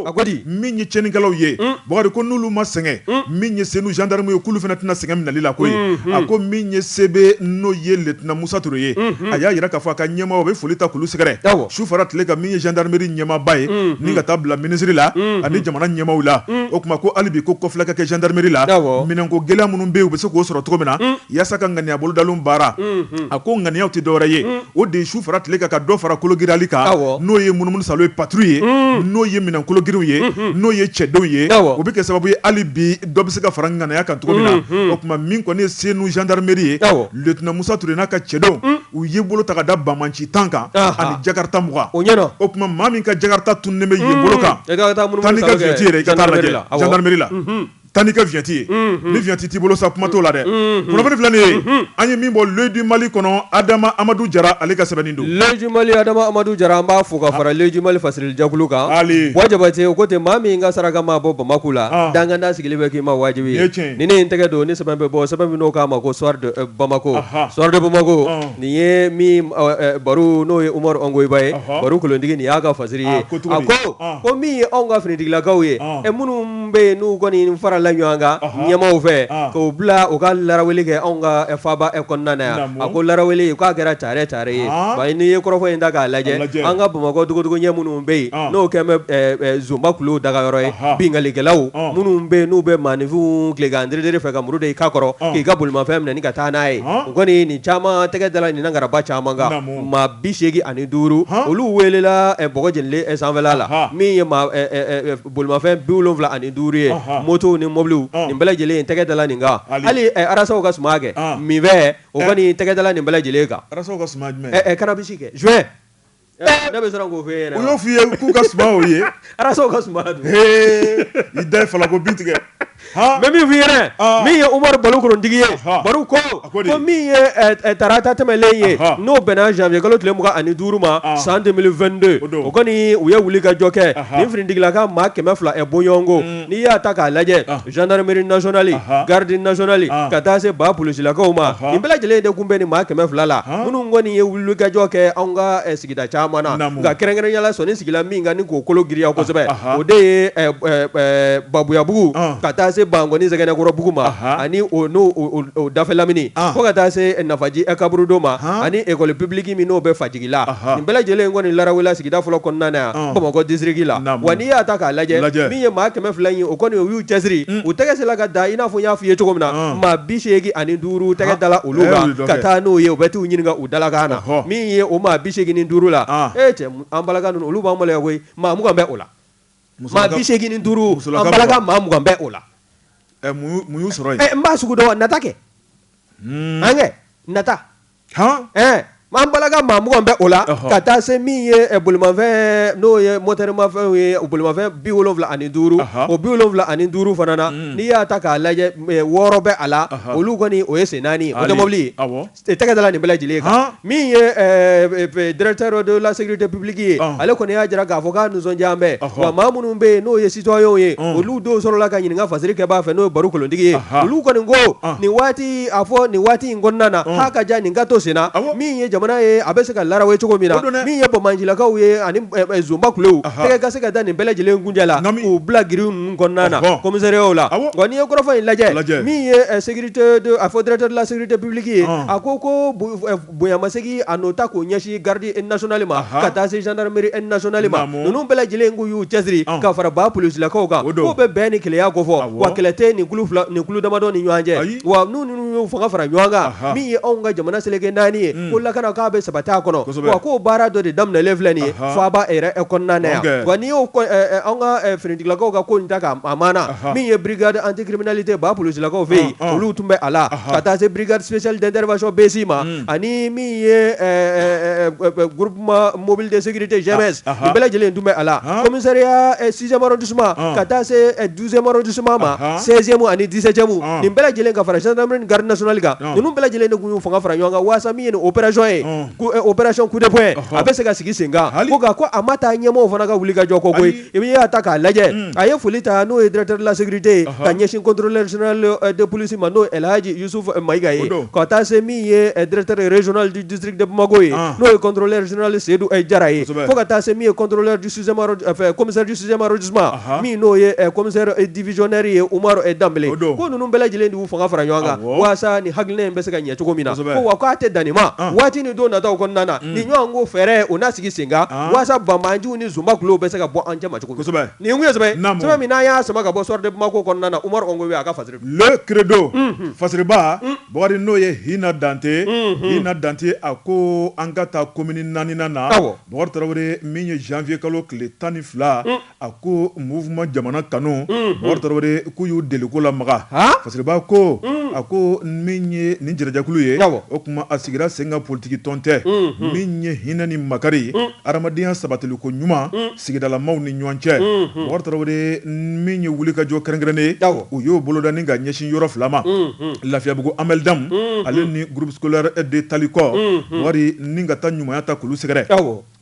min ye tiɲɛnikɛlaw ye Bɔkari ko n'olu ma sɛgɛn min ye Senu gendarme ye k'olu fana tɛna sɛgɛn minɛli la koyi a ko min ye sebe n'o ye lieutenant Musa Ture ye a y'a yira k'a fɔ a ka ɲɛmaaw a bɛ foli ta k'olu sɛgɛrɛ su fara tile kan min ye gendarmerie ɲɛmaaba ye ni ka taa bila minisiri la ani jamana ɲɛmaaw la o kuma ko hali bi ko kɔfilɛ ka kɛ gendarmerie la minɛnko gɛlɛya minnu bɛ u bɛ se k'o sɔrɔ cogo min na yaasa ka ŋaniya bolodalen baara a ko ŋaniyaw tɛ dɔwɛrɛ ye o de su fara tile kan ka dɔ fara kologirali kan n'o ye munumunu salo ye patrouille ye n'o ye minɛn kologiriw ye n'o ye cɛdenw ye o bɛ kɛ sababu ye hali bi dɔ bɛ se ka fara ŋaniya kan cogo min na o kuma min kɔni ye Senu gendarmerie ye lieutenant Musa Ture n'a ka cɛdenw u ye bolo ta ka da banbaanci tan kan ani jakarta mugan o ɲɛna o kuma maa min ka jakarta tunnen bɛ yen bolo kan i ka taa lajɛ gendarmerie la taa n'i ka vignette ye ni vignette t'i bolo sa kuma t'o la dɛ kunnafoni filɛ nin ye an ye min bɔ l'œil du Mali kɔnɔ adama amadu jara ale ka sɛbɛnni don l'œil du Mali adama amadu jara an b'a fo ka fara l'œil du Mali fasirilijɛkulu kan Buwa jabate o ko ten maa min ka saraka ma bɔ bamakɔ la danganda sigilen bɛ k'i ma wajibi ye ni ne ye n tɛgɛ don ni sɛbɛn bɛ bɔ sɛbɛn min n'o k'a ma ko bamakɔ Soir de bamakɔ nin ye min baro n'o ye Umaru Ongoyiba ye baro kulutigi nin y'a ka fasiri ye a ko min ye anw ka finitigilakaw ye minnu bɛ yen n'u kɔni nin farala ɲɔgɔn kan ɲɛmaaw fɛ k'o bila u ka laraweli kɛ anw ka faaba kɔnɔna yan a ko laraweli k'a kɛra cari ta ye wa n'i ye kɔrɔfɔ in ta k'a lajɛ an ka bamakɔ dogodogonin minnu bɛ yen n'o kɛlen zonba kulu dagayɔrɔ ye binkalikɛlaw minnu bɛ yen n'u bɛ maaninfinw tilegan fɛ ka muru da i kan kɔrɔ k'i ka bolomafɛn minɛ ka taa n'a ye u kɔni nin caman tɛgɛ dala ɲin garaba caman kan maa bi seegin ani duuru olu welela bɔgɔ jenilen sanfɛ la min ye bolimafɛn bi wolonwula ani duuru ye motow ni mobiliw nin bɛɛ lajɛlen in tɛgɛ dala nin kan hali arasaw ka suma kɛ min fɛ o kɔni tɛgɛ dala nin bɛɛ lajɛlen kan cannabis kɛ joint ne bɛ siran k'o fɛ yen n' y'o fɔ i ye k'u ka suma ye arasaw ka suma don i da fana ko bin tigɛ mɛ min f'i yɛrɛ min ye umaru baro kolontigi ye baro ko ko min ye tarata tɛmɛlen ye n'o bɛnna janvier kalo tile mugan ani duuru ma san deux mille vingt-deux o kɔni u ye wuli ka jɔ kɛ nin finitigilaka maa kɛmɛ fila bɔɲɔgɔnko n'i y'a ta k'a lajɛ gendarmerie nationale garde nationale ka taa se ba polisilakaw ma nin bɛɛ lajɛlen de tun bɛ nin maa kɛmɛ fila la minnu kɔni ye wuli ka jɔ kɛ anw ka sigi da caman na nka kɛrɛnkɛrɛnnenya la sɔnni sigira min kan k'o kolo giriya kosɛbɛ o de ye babuyabugu ka taa se bankoni zɛgɛnɛkɔrɔbugu ma ani o dafɛ lamini fo ka taa se nafaji kaburudo ma ani école publique min n'o bɛ fajigila nin bɛɛ lajɛlen in kɔni larawela sigida fɔlɔ kɔnɔna na yan bamakɔ disiriki la wa n'i y'a ta k'a lajɛ min ye maa kɛmɛ fila in o kɔni u y'u cɛsiri u tɛgɛ sela ka da i n'a fɔ n y'a f'i ye cogo min na maa bi seegin ani duuru tɛgɛ dala olu kan ka taa n'o ye u bɛ t'u ɲini U dalakan na min ye o maa bi segin ni duuru la e cɛ an balaka ninnu olu b'an maloya koyi maa mugan bɛ o la maa bi segin ni duuru an balaka maa mugan bɛ o la mun y'u sɔrɔ yen n b'a sugu dɔn nata kɛ an kɛ nata an balaka maa mugan bɛ o la ka taa se min ye bolimafɛn n'o ye motɛrimafɛn ye bolimafɛn bi wolowula ani duuru o bi wolowula ani duuru fana na n'i y'a ta k'a lajɛ wɔɔrɔ bɛ a la olu kɔni o ye sen naani ye o ye mɔbili ye tɛgɛ dala nin bɛɛ lajɛlen kan min ye directeur de la sécurité publique ye ale kɔni y'a jira k'a fɔ k'a nisɔndiya bɛ maa minnu bɛ yen n'o ye citoyenw ye olu dɔw sɔrɔla ka ɲininka ka fasiri kɛbaa fɛ n'o ye baro kolontigi ye olu kɔni ko nin waati a fɔ nin waati in kɔnɔna na k'a ka diya nin ka to sen na min ye jamana ye a bɛ se ka larawe cogo min na min ye bamanjilakaw ye ani zonba kuluw tɛgɛ ka se ka da nin bɛɛ lajɛlen kunjɛ la k'u bila grille ninnu kɔnɔna na commissariat la n'i ye kɔrɔfɔ in lajɛ min a fɔ directeur de la sécurité publique ye a ko ko bonyamasegin a n'o ta k'o ɲɛsin garde nationale ma ka taa se gendarmerie nationale ma ninnu bɛɛ lajɛlen k'u y'u cɛsiri ka fara ba polisilakaw kan k'o bɛ bɛn ni kelenya kofɔ wa kɛlɛ tɛ nin kulu damadɔ ni ɲɔgɔn cɛ wa n' ninnu y'u fanga fara ɲɔgɔn kan min ye anw ka jamana seleke naani ye ko lakana k'a bɛ sabati a kɔnɔ k'o baara dɔ de daminɛlen filɛ nin ye faaba yɛrɛ kɔnɔna na yan wa n'i ye anw ka finitigilakaw ka ko in ta k'a ma min ye bi antikirimli tɛ ba psilakaw fɛ yen olu tun bɛ a la ka taa se biridsili dɛsɛrɛrɛcɛ bɛsi ma ani min ye mɔbili dɛsɛgirite zɛmɛ bɛɛ lajɛlen tun bɛ a la kɔmire sisanro dusu suma ka taa se duzɛnmo dusu suma ma sɛsɛnmu ani disɛjɛmu nin bɛɛ lajɛlen ka fara sinaɛrɛri garir-sli kan ninnu bɛɛ lajɛlen de tun y'u fanga fara ɲɔgɔn kan waasa min ye o pɛzsɔn ye o pɛzc kudɛpye a bɛ se ka sigi sen kan hali ko a ma taa ɲɛmɔgɔ fana ka wuli ka jɔ koyi I bɛ y'a ta k'a lajɛ mm. a ye foli ta n'o ye directeur de la sécurité ye ka ɲɛsin contrôleur général euh, de police ma n'o ye El Hadji Youssouf euh, Mayiga ye ka taa se min ye euh, directeur régional du district de Bamako ye ah. n'o ye contrôleur général Seydou Jara ye fo ka taa se min ye contrôleur du sixième enfin commissaire du sixième arrondissement min n'o ye commissaire divisionnaire ye Umaru Danbele ko ninnu bɛɛ lajɛlen de y'u fanga fara ɲɔgɔn kan walasa nin hakilina in bɛ se ka ɲɛ cogo min na ko wa k'a tɛ dan nin ma ah. waati ni don nataw kɔnɔna na mm. nin ɲɔgɔn ko fɛɛrɛ o n'a sigi sen kan ah. walasa banbaanciw ni zba tulo bɛ se ka bɔ an cɛ cogo kosɛbɛ nin yesɛbɛ min n'a y'a saba ka bɔ sɔden ma ko kɔnɔna na u amadu a ka fa kido faba bakarijan n'o ye h hinɛ dante h na dante a ko an ka taa komini naani na tarawele min ye zfiye kalo tile tan ni fila a ko muma jamana kanu k'u y'u deliku la makan faba ko a ko min ye ni jarajakulu ye o tuma a sigira sen ka politigi tɔn tɛ min ye hinɛinɛ ni makari ye Hadamadenya sabatili ko ɲuman sigidalamaw ni ɲɔgɔn cɛ Bubakari Tarawele min ye wulikajɔ kɛrɛnkɛrɛnnen ye u y'o boloda ni ka ɲɛsin yɔrɔ fila ma Lafiyabugu Amaldeme ale ni groupe scolaire de Talikɔ Bubakari ni ka taa ɲumanya ta k'olu sɛgɛrɛ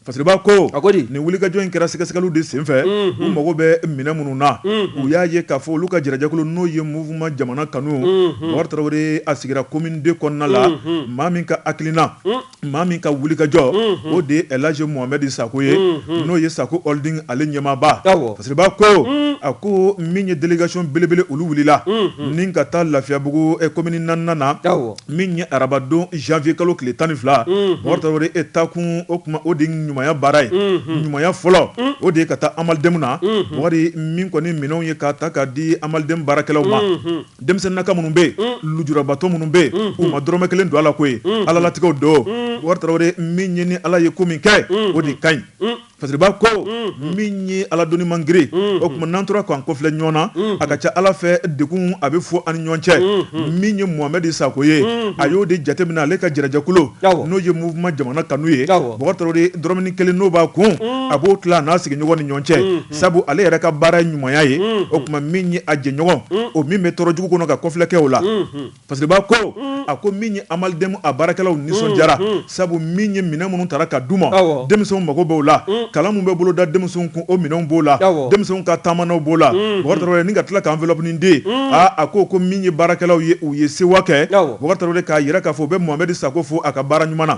Fasiriba ko nin wulikajɔ in kɛra sɛgɛsɛgɛliw de senfɛ u mago bɛ minɛn minnu na u y'a ye k'a fɔ olu ka jɛrɛjɛkulu n'o ye mouvement jamana kanu Bubakari Tarawele a sigira commune II kɔnɔna la maa min ka hakilina maa min ka wulikajɔ o de ye El Hadji Mohamed Sakɔ ye n'o ye Sakɔ Holding ale ɲɛmaaba Fasiriba ko a ko min ye délégation belebele olu wulila ni ka taa Lafiyabugu komini naaninan na min ye arabadon janvier kalo tile tan ni fila Bubakari Tarawele e taakun o tuma o de ɲumanya baara ye ɲumanya fɔlɔ o de ye ka taa Amaldeme na Bubakari min kɔni minɛnw ye k'a ta k'a di Amaldeme baarakɛlaw ma denmisɛnninaka minnu bɛ yen lujurabatɔ minnu bɛ yen u ma dɔrɔmɛ kelen don a la ko ye alalatigɛw don Bubakari Tarawele min ye ni ala ye ko min kɛ o de ka ɲi Fasiriba ko min ye ala doni man girin o tuma n'an tora k'an kɔfilɛ ɲɔgɔn na a ka ca ala fɛ degun a bɛ fɔ an ni ɲɔgɔn cɛ min ye Mohamed Sakɔ ye a y'o de jateminɛ ale ka jɛrɛjɛkulu n'o ye mouvement jamana kanu ye Bubakari Tarawele dɔrɔmɛnin kelen n'o b'a kun a b'o tila a n'a sigiɲɔgɔn ni ɲɔgɔn cɛ sabu ale yɛrɛ ka baara ɲumanya ye o tuma min ye a jɛɲɔgɔn o min bɛ tɔɔrɔ jugu kɔnɔ ka kɔfilɛ kɛ o la Fasiriba ko a ko min ye Amaldeme a baarakɛlaw nisɔndiyara sabu min ye minɛn minnu tara ka d'u ma denmisɛnw mago b'o la kalan min bɛ boloda denmisɛnw kun o minɛnw b'o la denmisɛnw ka taamanan b'o la ni ka tila ka enveloppe nin di a ko ko min ye baarakɛlaw ye u ye sewa kɛ Bubakari Tarawele k'a jira k'a fɔ u bɛ Mohamed Sakɔ fo a ka baara ɲuman na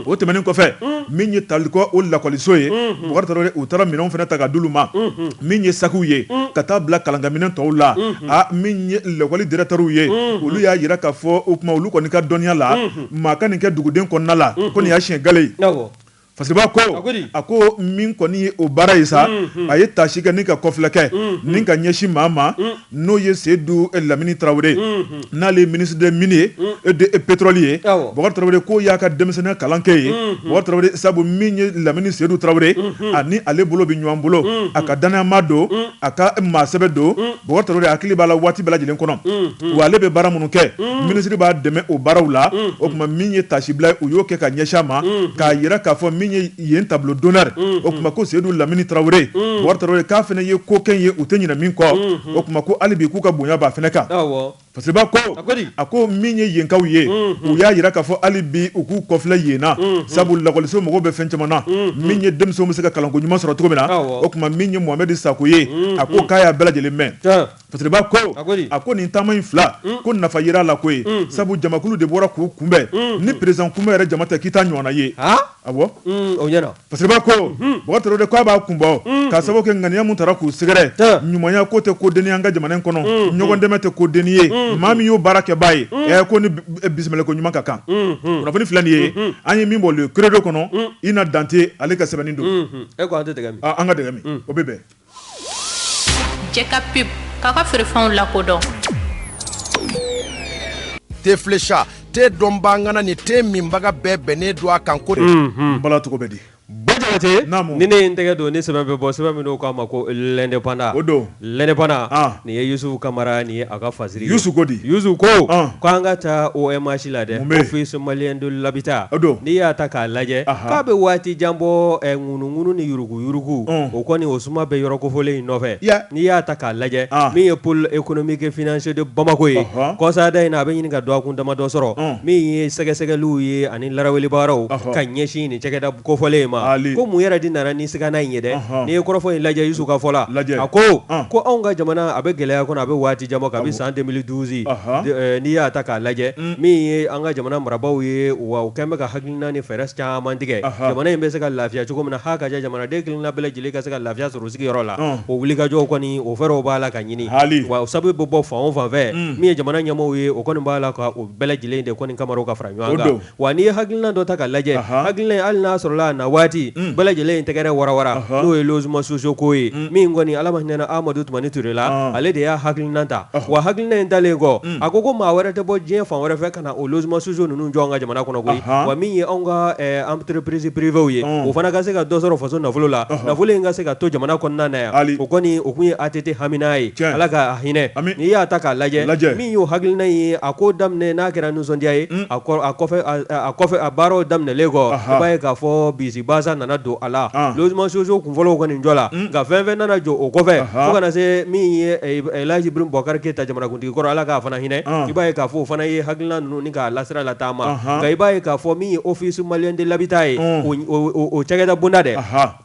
o tɛmɛnen kɔfɛ min ye talikɔ o lakɔliso ye bakari u taara minɛn fana ta ka d'olu ma min ye sakiw ye ka taa bila kalankaminɛ tɔw la min ye lakɔli directeurs ye olu y'a yira k'a fɔ o kuma olu kɔni ka dɔnniya la maa ka nin kɛ duguden kɔnɔna la ko nin y'a siɲɛ gale ye fasiribaa ko a ko min kɔni ye o baara ye sa a ye taasi kɛ ni ka kɔfilɛ kɛ ni ka ɲɛsin maa ma N'o ye seyidu lamini tarawele n'ale ye ministre des mines et de pétrole ye bakari tarawele ko y'a ka denmisɛnniya kalan kɛ yen bakari tarawele sabu min ye lamini seyidu tarawele ani ale bolo bɛ ɲɔgɔn bolo a ka dannayamaa don a ka maa sɛbɛ don bakari tarawele hakili b'a la waati bɛɛ lajɛlen kɔnɔ wa ale bɛ baara minnu kɛ minisiri b'a dɛmɛ o baaraw la o kuma min ye tasibila u y'o kɛ ka ɲɛsin a ma k'a yira k'a fɔ min ye yen tableau d'honneur mm-hmm. o kuma ko seyidu lamini tarawele mm-hmm. bakari tarawele k'a fana ye ko kɛ ye u tɛ ɲinɛ min kɔ mm-hmm. o kuma ko hali bi k'u ka bonya b'a fana kan fasiribaa ko a ko min ye yenkaw ye u y'a yira k'a fɔ hali bi u k'u kɔfilɛ yen na sabu lakɔliso mɔgɔw bɛ fɛn caman na min ye denmisɛnw bɛ se ka kalanko ɲuman sɔrɔ cogo min na o kuma min ye mohamɛdi sako ye a ko k'a y'a bɛɛ lajɛlen mɛn Fasiribaa ko a ko nin taama in fila ko nafa yera a la ko ye sabu jamakulu de bɔra k'u kunbɛn ni président kunbɛn yɛrɛ jama tɛ k'i t'a ɲɔgɔn ye a fasiribaa ko mɔgɔ de k'a b'a kunbɔ k'a sababu kɛ ŋaniya min taara k'u sɛgɛrɛ ɲumanya ko tɛ ko dennin an ka jamana kɔnɔ ɲɔgɔn dɛmɛ tɛ ko dennin ye maa min y'o baara kɛbaa ye ko ni bisimila ko ɲuman ka kan kunnafoni filɛ nin ye an ye min bɔ le credo kɔnɔ ina dante ale ka sɛbɛnni don an ka o bɛ bɛn Cɛ ka pub k'a ka feerefɛnw lakodɔn te flécha te dɔnbaga ŋana ni te minbaga bɛɛ bɛnnen don a kan ko balacogo bɛ di ni ne n tɛgɛ don ni sɛbɛn bɛ bɔ sɛbɛn min k'a ma ko l'indépendant o don l'indépendant nin ye yusufu kamara nin ye a ka fasiri yusu ko di ko k'an ka taa OMH la dɛ office malien de l'habitat n'i y'a ta k'a lajɛ k'a bɛ waati jan bɔ ŋunuŋunu ni yurugu yurugu o kɔni o suma bɛ yɔrɔ kofɔlen in nɔfɛ n'i y'a ta k'a lajɛ min ye pôle économique et financier de bamakɔ ye kɔsada in na a bɛ ɲini ka dɔgɔkun damadɔ sɔrɔ min ye sɛgɛsɛgɛliw ye ani laraweli baaraw ka ɲɛsin nin cakɛda kofɔlen in ma ko mun yɛrɛ de nana ni sigana in ye dɛ n'i ye kɔrɔfɔ in lajɛ yusu ka fɔ la a ko ko anw ka jamana a bɛ gɛlɛya kɔnɔ a bɛ waati jan bɔ kabi san deux mille douze n'i y'a ta k'a lajɛ min ye an ka jamana marabagaw ye wa u kɛlen bɛ ka hakili na ni fɛɛrɛ caman tigɛ jamana in bɛ se ka lafiya cogo min na ha ka kɛ jamanaden kelenna bɛɛ lajɛlen ka se ka lafiya sɔrɔ sigiyɔrɔ la o wulikajɔ kɔni o fɛɛrɛw b'a la ka ɲini hali o sababu bɛ bɔ fan o fan fɛ min ye jamana ɲɛmaaw ye o kɔni b'a la ka o bɛɛ lajɛlen de kɔni kama ka fara ɲɔgɔn kan wa n'i ye hakilina dɔ ta ka lajɛ hakilina hali n'a sɔrɔla waati bɛɛ lajɛlen in tɛgɛrɛ warawara n'o ye logements sociaux ko ye min kɔni ala ma hinɛ na amadu tumani ture la ale de y'a hakilina ta wa hakilina in talen kɔ a ko ko maa wɛrɛ tɛ bɔ diɲɛ fan wɛrɛ fɛ ka na o logement sociaux ninnu jɔ an ka jamana kɔnɔ koyi wa min ye anw ka entreprise privéew ye o fana ka se ka dɔ sɔrɔ faso nafolo la nafolo in ka se ka to jamana kɔnɔna na yan o kɔni o kun ye ATT hamina ye ala ka hinɛ n'i y'a ta k'a lajɛ min y'o hakilina ye a ko daminɛ n'a kɛra nisɔndiya ye a kɔfɛ a baaraw daminɛlen kɔ i b'a ye k'a fɔ bisibasa nana don a la logement sociaux kunfɔlɔ kɔni jɔla nka fɛn fɛn nana jɔ o kɔfɛ fo ka na se min ye Laji Ibrahim Boubacar Keita jamana kun tigi kɔrɔ ala k'a fana hinɛ i b'a ye k'a fɔ o fana ye hakilina ninnu ni k'a lasira lataama nka i b'a ye k'a fɔ min ye Office malien de l'habitat ye o cakɛda bonda dɛ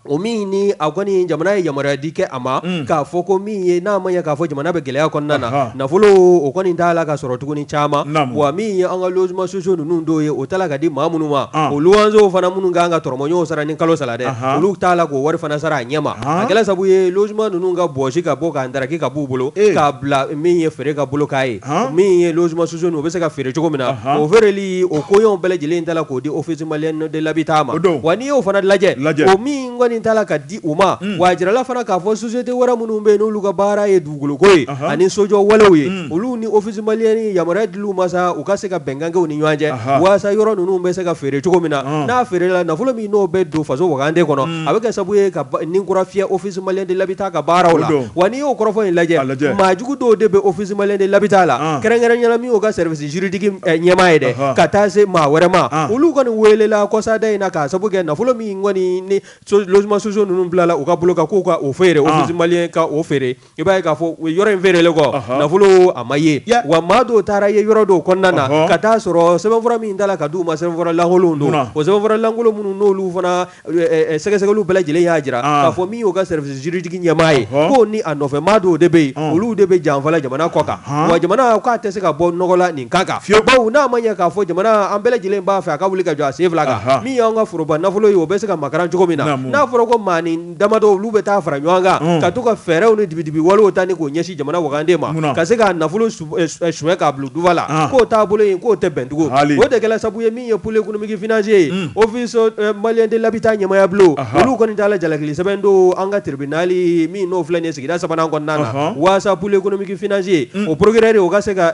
o min ni a kɔni jamana ye yamaruya di kɛ a ma k'a fɔ ko min ye n'a ma ɲɛ k'a fɔ jamana bɛ gɛlɛya kɔnɔna na nafolo o kɔni t'a la ka sɔrɔ tuguni caman wa min ye an ka logement sociaux ninnu dɔw ye o tala ka di maa minnu ma o luwanzew fana minnu kan ka tɔrɔmɔɲɔgɔnw sara ni kalo sara dɛ olu t'a la k'o wari fana sara a ɲɛma a kɛla sabu ye logement ninnu ka bɔsi ka bɔ k'a ndaraki ka bɔ bolo k'a bila min ye feere ka bolo kan ye min ye logement sociaux u bɛ se ka feere cogo min na o feereli o ko bɛɛ lajɛlen tala k'o di Office malien de l'habitat ma wa n'i y'o fana lajɛ o min kɔni tala ka di u ma wa a jirala fana k'a fɔ société wɛrɛ minnu bɛ yen n'olu ka baara ye dugukoloko ye ani sojɔ walew ye olu ni Office malien ni yamaruya dil'u ma sa u ka se ka bɛnkan kɛ u ni ɲɔgɔn cɛ walasa yɔrɔ ninnu bɛ se ka feere cogo min na n'a feerela nafolo min n'o bɛ don faso wagande kɔnɔ a bɛ kɛ sabu ye ka ni kura fiyɛ Office malien de l'habitat ka baaraw la wa n'i y'o kɔrɔfɔ in lajɛ maa jugu dɔw de bɛ Office malien de l'habitat la kɛrɛnkɛrɛnya na min y'o ka service juridique ɲɛmaa ye dɛ ka taa se maa wɛrɛ ma olu kɔni weelela kɔsada in na k'a sabu kɛ nafolo min kɔni ni logement sociaux ninnu bilala u ka bolo kan k'u ka o feere Office malien ka o feere i b'a ye k'a fɔ yɔrɔ in feerelen kɔ Ɔhɔn. nafolo a ma ye Ya. wa maa dɔw taara ye yɔrɔ dɔw kɔnɔna na Ɔhɔn. ka taa sɔrɔ sɛbɛnfura min tala ka di u ma sɛbɛnfura lankolonw don Munna? o sɛbɛnfura lankolon minnu n'olu fana ɛ, ɛ, sɛgɛsɛgɛliw bɛɛ lajɛlen y'a jira Ah. k'a fɔ min y'u ka service juridique ɲɛmaa ye Ɔhɔn. k'o ni a nɔfɛ maa dɔw de bɛ yen Ɔn. olu de bɛ janfa la jamana kɔ kan Ɔhɔn. wa jamana k'a tɛ se ka bɔ nɔgɔ la nin kan Fiyewu. bawo n'a ma ɲɛ k'a fɔ jamana an bɛɛ lajɛlen b'a fɛ a ka wuli ka jɔ a sen fila kan Aha. min y'an ka foroba nafolo ye o bɛ se ka makaran cogo min na Naamu. n'a fɔra ko maa ni damadɔ olu bɛ taa fara ɲɔgɔn kan mm. ka to ka fɛɛrɛw ni dibidibi walew ta ni k'o ɲɛsin jamana wagande ma ka se k'a nafolo eh, eh, suɲɛ k'a bila dufa la ah. k'o taabolo in k'o tɛ bɛn tugun o de kɛla sabu ye min ye pôle économique financier ye mm. Office eh, malien de l'habitat ɲɛmaaya bulon olu kɔni taala jalakili sɛbɛn don an ka tribunali min n'o filɛ nin ye sigida sabanan kɔnɔna na waasa pôle économique financier mm. o procureur o ka se ka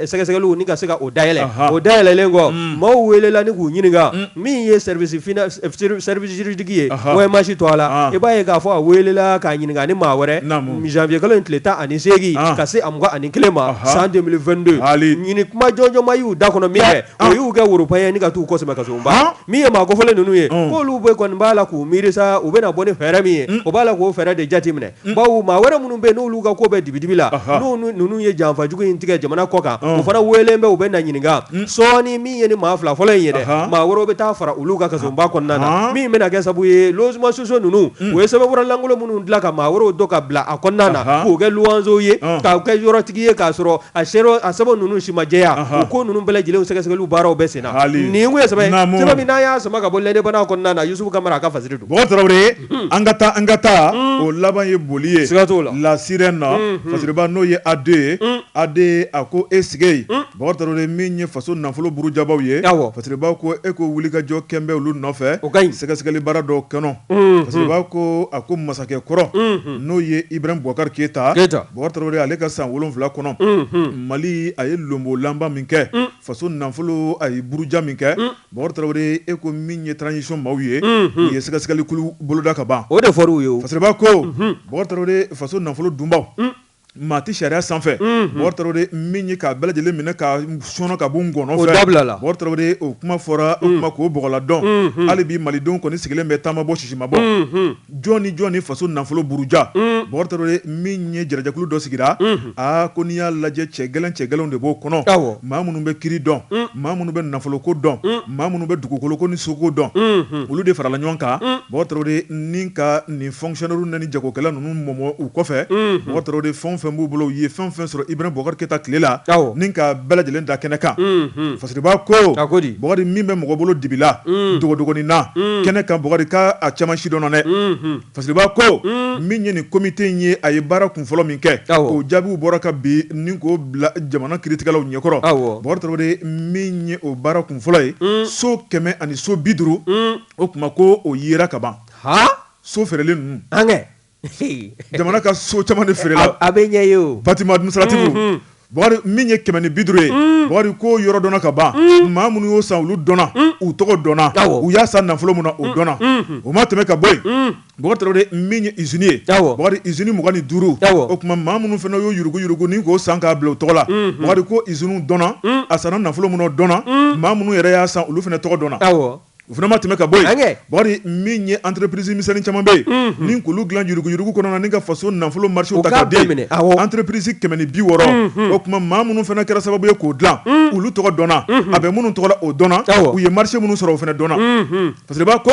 sɛgɛsɛgɛliw ni ka se ka o dayɛlɛ o dayɛlɛlen kɔ maaw welela ni k'u ɲininka min ye service fina service juridique ye OMH to a la i b'a ye k'a fɔ a weelela k'a ɲininka ni maa wɛrɛ janvier kalo in tile tan ani seegin ka se a mugan ani kelen ma san 2022 ɲini kuma jɔnjɔn ma y'u da kɔnɔ min kɛ o y'u kɛ woropan ni ka t'u kɔ sɛmɛ kasoba min ye maa kofɔlen ninnu ye k'olu bɛ kɔni b'a la k'u miiri sa u bɛna bɔ ni fɛɛrɛ min ye o b'a la k'o fɛɛrɛ de jateminɛ mm. bawo maa wɛrɛ minnu bɛ n'olu ka ko bɛ dibidibi la n'u ninnu ye janfajugu in tigɛ jamana kɔ kan o fana weelen bɛ u bɛ na ɲininka mm. sɔɔni min ye ni maa fila fɔlɔ in ye dɛ maa wɛrɛw bɛ taa fara olu ka kasɔnba kɔnɔna na min bɛna kɛ sabu ye logement sociaux ninnu mm. u ye sɛbɛnfura lankolon minnu dilan ka maa wɛrɛw dɔ ka bila a kɔnɔna na k'o kɛ luwanzew ye k'u kɛ yɔrɔtigi ye k'a sɔrɔ a sɛbɛn a sɛbɛn ninnu si ma jɛya o ko ninnu bɛɛ lajɛlen sɛgɛsɛgɛliw baaraw bɛ senna nin kun ye sɛbɛn sɛbɛn min n'an y'a sama ka bɔ L'Indépendant kɔnɔna na Yusufu Kamara a ka fasiri don. an ka taa an ka taa o laban ye boli ye siga t'o la La Sirène na fasiriba n'o ye AD ye AD a ko e sigi Bɔkari Tarawele min ye faso nafolo burujabaw ye fasiriba ko e ko wulikajɔ kɛlen bɛ olu nɔfɛ o ka ɲi sɛgɛsɛgɛli baara dɔ kɔnɔ fasiriba ko a ko masakɛ kɔrɔ n'o ye Ibrahim Boubacar Keita Bɔkari Tarawele ale ka san wolonwula kɔnɔ mali a ye lonbolanba min kɛ faso nafolo a ye buruja min kɛ Bɔkari Tarawele e ko min ye transition maaw ye u ye sɛgɛsɛgɛlikulu boloda ka ban o de fɔr'an ye fasiriba ko Bɔkari Tarawele faso nafolo dunbaw maa tɛ sariya sanfɛ Bɔkari Tarawele min ye k'a bɛɛ lajɛlen minɛ k'a sɔnɔ ka b'u ngɔnɔ fɛ o dabila la Bɔkari Tarawele o kuma fɔra o kuma k'o bɔgɔla dɔn hali bi malidenw kɔni sigilen bɛ ta ma bɔ sisi ma bɔ Jɔn ni jɔn ni faso nafolo buruja Bɔkari Tarawele min ye jarajakulu dɔ sigira aa ko n'i y'a lajɛ cɛ gɛlɛn cɛ gɛlɛnw de b'o kɔnɔ maa minnu bɛ kiiri dɔn maa minnu bɛ nafoloko dɔn maa minnu bɛ dugukoloko ni soko dɔn olu de farala ɲɔgɔn kan Bɔkari Tarawele ni ka nin fonctionnaire ni jagokɛla ninnu mɔmɔ u kɔfɛ Bɔkari Tarawele fɛn fɛn b'u bolo u ye fɛn fɛn sɔrɔ Ibrahim Boubacar Keita tile la ni k'a bɛɛ lajɛlen da kɛnɛ kan Fasiriba ko Bɔkari min bɛ mɔgɔ bolo dibi la dogodogonin na kɛnɛ kan Bɔkari ka a caman si dɔn na dɛ fasiriba ko min ye nin komite in ye a ye baara kun fɔlɔ min kɛ o jaabiw bɔra ka bin ni k'o bila jamana kiritigɛlaw ɲɛkɔrɔ Bɔkari Tarawele min ye o baara kun fɔlɔ ye so kɛmɛ ani so bi duuru o tuma ko o yera ka ban so feerelen ninnu jamana ka so caman de feerela a bɛ ɲɛ ye o bâtiment administratif Bɔkari min ye kɛmɛ ni bi duuru ye Bɔkari ko yɔrɔ dɔnna ka ban maa minnu y'o san olu dɔnna u tɔgɔ dɔnna u y'a san nafolo min na o dɔnna o ma tɛmɛ ka bɔ yen Bɔkari min ye usine ye Bɔkari usine mugan ni duuru o tuma maa minnu fana y'o yuruguyurugu ni k'o san k'a bila u tɔgɔ la Bɔkari ko usine dɔnna a sanna nafolo min na o dɔnna maa minnu yɛrɛ y'a san olu fana tɔgɔ dɔnna O fana ma tɛmɛ ka bɔ yen Bɔkari min ye entreprise misɛnnin caman bɛ yen ni k'olu dilan yuruguyurugu kɔnɔ ka faso nafolo marché ta ka di entreprise kɛmɛ ni bi wɔɔrɔ o tuma maa minnu fana kɛra sababu ye k'o dilan olu tɔgɔ dɔnna a bɛ minnu tɔgɔ la o dɔnna u ye marché minnu sɔrɔ o fana dɔnna fasiriba ko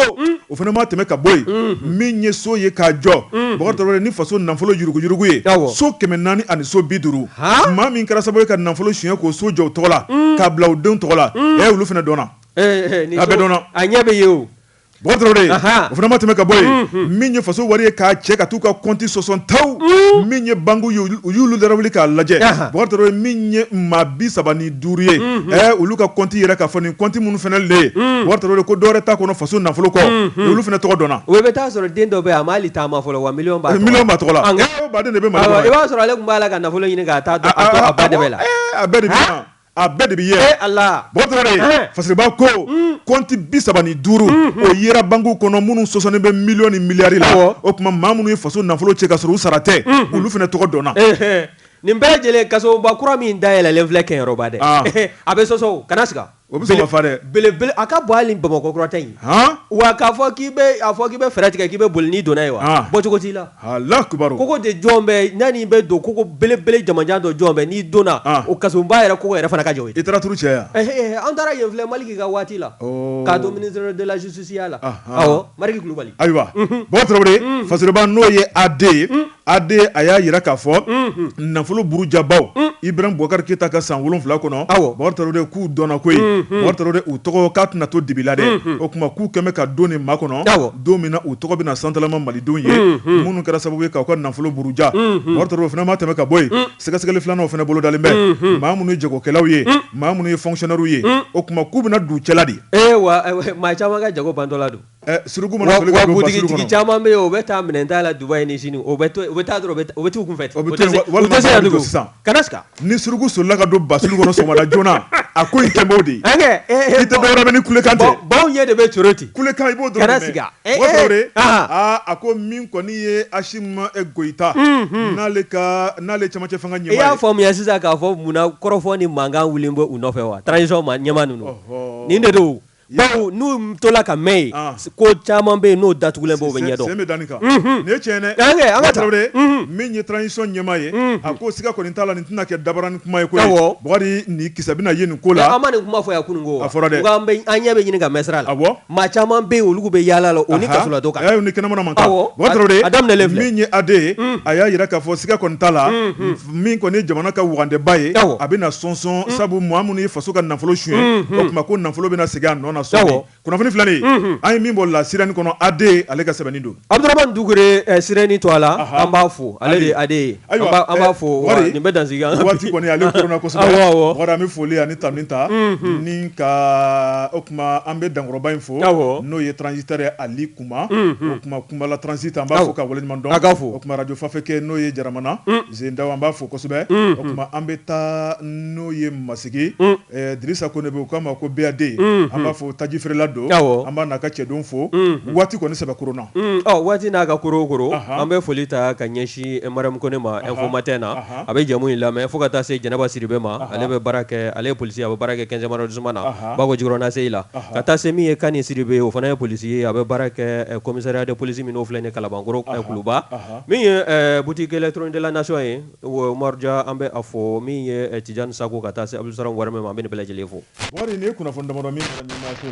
o fana ma tɛmɛ ka bɔ yen min ye so ye k'a jɔ ni faso nafolo yuruguyurugu ye so kɛmɛ naani ani so bi duuru maa min kɛra sababu ye ka nafolo suɲɛ k'o so jɔ u tɔgɔ la k'a bila u denw tɔgɔ la olu fana dɔnna A bɛɛ dɔnna a ɲɛ bɛ ye o o fana ma tɛmɛ ka bɔ yen min ye faso wari ye k'a cɛ ka t'u ka kɔnti sɔsɔ taw min ye banki ye u y'olu dara wuli k'a lajɛ ye min ye maa bi saba ni duuru ye ɛ olu ka kɔnti yira k'a fɔ nin kɔnti minnu fana le ye ko dɔwɛrɛ t'a kɔnɔ faso nafolo kɔ olu fana tɔgɔ dɔnna o bɛ taa sɔrɔ den dɔ bɛ yen a ma hali taama fɔlɔ wa miliyɔn b'a tɔgɔ la de b'a sɔrɔ ale tun b'a la ka nafolo ɲini k' la a bɛɛ a bɛɛ de bɛ ye a fasiriba ko kɔnti bi saba ni duuru o yera banki kɔnɔ minnu sɔsɔlen bɛ miliyɔn ni miliyari la o tuma maa minnu ye faso nafolo cɛ ka sɔrɔ u sara tɛ olu fana tɔgɔ dɔnna nin bɛɛ lajɛlen kasoba kura min dayɛlɛlen filɛ Kɛɲɔrɔba dɛ a bɛ sɔsɔ kana siga o bɛ dɛ belebele a ka bon Bamakɔkura ta ye wa k'a fɔ k'i fɔ k'i bɛ fɛɛrɛ tigɛ k'i bɛ boli n'i donna yen wa bɔ cogo t'i la Kogo de jɔlen bɛ yanni i bɛ don kogo belebele jamanjan dɔ jɔlen bɛ n'i donna o kasoba yɛrɛ kogo yɛrɛ fana ka jan i taara cɛ an taara yen fɔlɔ Maliki ka waati la k'a to ministre de la justice ya la Maliki Kulubali ayiwa Bukari Tarawele fasiriba n'o ye AD ye AD a y'a jira k'a fɔ nafolo burujabaw Ibrahim Boubacar Keita ka san wolonwula kɔnɔ a k'u dɔnna koyi u tɔgɔ k'a tɛna to dibi la dɛ o tuma k'u k'an bɛɛ ka don nin makɔnɔ don min na u tɔgɔ bɛna santalama malidenw ye minnu kɛra sababu ye k'aw ka nafolo buruja o fana ma tɛmɛ ka bɔ yen sɛgɛsɛgɛli filanan fana bolodalen bɛ maa minnu ye jagokɛlaw ye maa minnu ye fonctionnaires ye o tuma k'u bɛna d'u cɛla dɛ wa maa caman ka jago bantɔla don suruku caman bɛ o bɛ taa minɛn ta la Dubaï ni Sini o bɛ taa u bɛ t'u kun fɛ sisan ka ni suruku solila ka don basulu kɔnɔ sɔgɔmada joona a ko in kɛ b'o de ye i tɛ dɔwɛrɛ mɛn ni kulekan tɛ baw ɲɛ de bɛ coro ten kulekan i b'o dɔrɔn de mɛn o dɔw de aa a ko min kɔni ye Asimi Goyita n'ale ka n'ale ye cɛmancɛ fanga ɲɛmaa ye i y'a faamuya sisan k'a fɔ munna kɔrɔfɔ ni mankan wulilen bɛ u nɔfɛ wa transition ɲɛmaa ninnu nin de don bawo n'u tola ka mɛn yen ah. ko caman bɛ yen n'o datugulen b'o bɛ ɲɛdɔn sen bɛ danni kan nin ye tiɲɛ dɛ an kɛ an ka Tarawele min ye transition ɲɛmaa ye a ko siga kɔni t'a la nin tɛna kɛ dabaranin kuma ye koyi Bukari nin kisɛ bɛna ye nin ko la an ma nin kuma fɔ yan kunun ko a fɔra dɛ an bɛ an ɲɛ bɛ ɲini ka mɛn sira la awɔ maa caman bɛ yen olu bɛ yaala la o ni kasoladon ka kan ayi ni kɛnɛmana man kan awɔ Bukari Tarawele a daminɛlen filɛ min ye AD ye a y'a jira k'a fɔ siga kɔni t'a la min kɔni ye jamana ka wagandeba ye a bɛna sɔsɔ sabu maa minnu ye faso ka nafolo suɲɛ o tuma ko nafolo bɛna segin a nɔ na sɔɔni kunnafoni fila nin an ye min bɔ La Sirène kɔnɔ AD ale ka sɛbɛnni don Abdurahmane Dukure Sirène to a la an b'a fo ale an b'a fo nin bɛ dan waati kɔni ale an bɛ foli ani tanuni ta ni ka o tuma an bɛ dankɔrɔba in fo n'o ye transitaire Ali kuma o tuma kunbala transit an b'a fo ka waleɲuman dɔn k'a fo o tuma radio fafɛkɛ n'o ye jaramana zendaw an b'a fo kosɛbɛ o tuma an bɛ taa n'o ye masigi dirisa kone bɛ u k'a ma ko BAD an b'a fo taji feerela don an b'a n'a ka cɛdenw fo waati kɔni sɛbɛ korona waati n'a ka koro an bɛ foli ta ka ɲɛsin mariam kone ma info matin na a bɛ jɛmu in lamɛn fo ka taa se jɛnɛba siribe ma ale bɛ baara kɛ ale ye polisi ye a bɛ baara kɛ quinzième arrondissement na bako jikɔrɔni ACI la Ɔhɔ. ka taa se min ye kani siribe ye o fana ye polisi ye a bɛ baara kɛ eh, commissariat de police min n'o filɛ nin kalabankoro eh, kuluba Ɔhɔ. min ye eh, boutique électronique de la nation ye umaru ja an bɛ a fo min ye eh, tijani sako ka taa se abdulsalam warame ma an bɛ nin bɛɛ lajɛlen fo Bukari, nin ye kunnafoni damadɔ min fɔra ɲɛmaayaso la.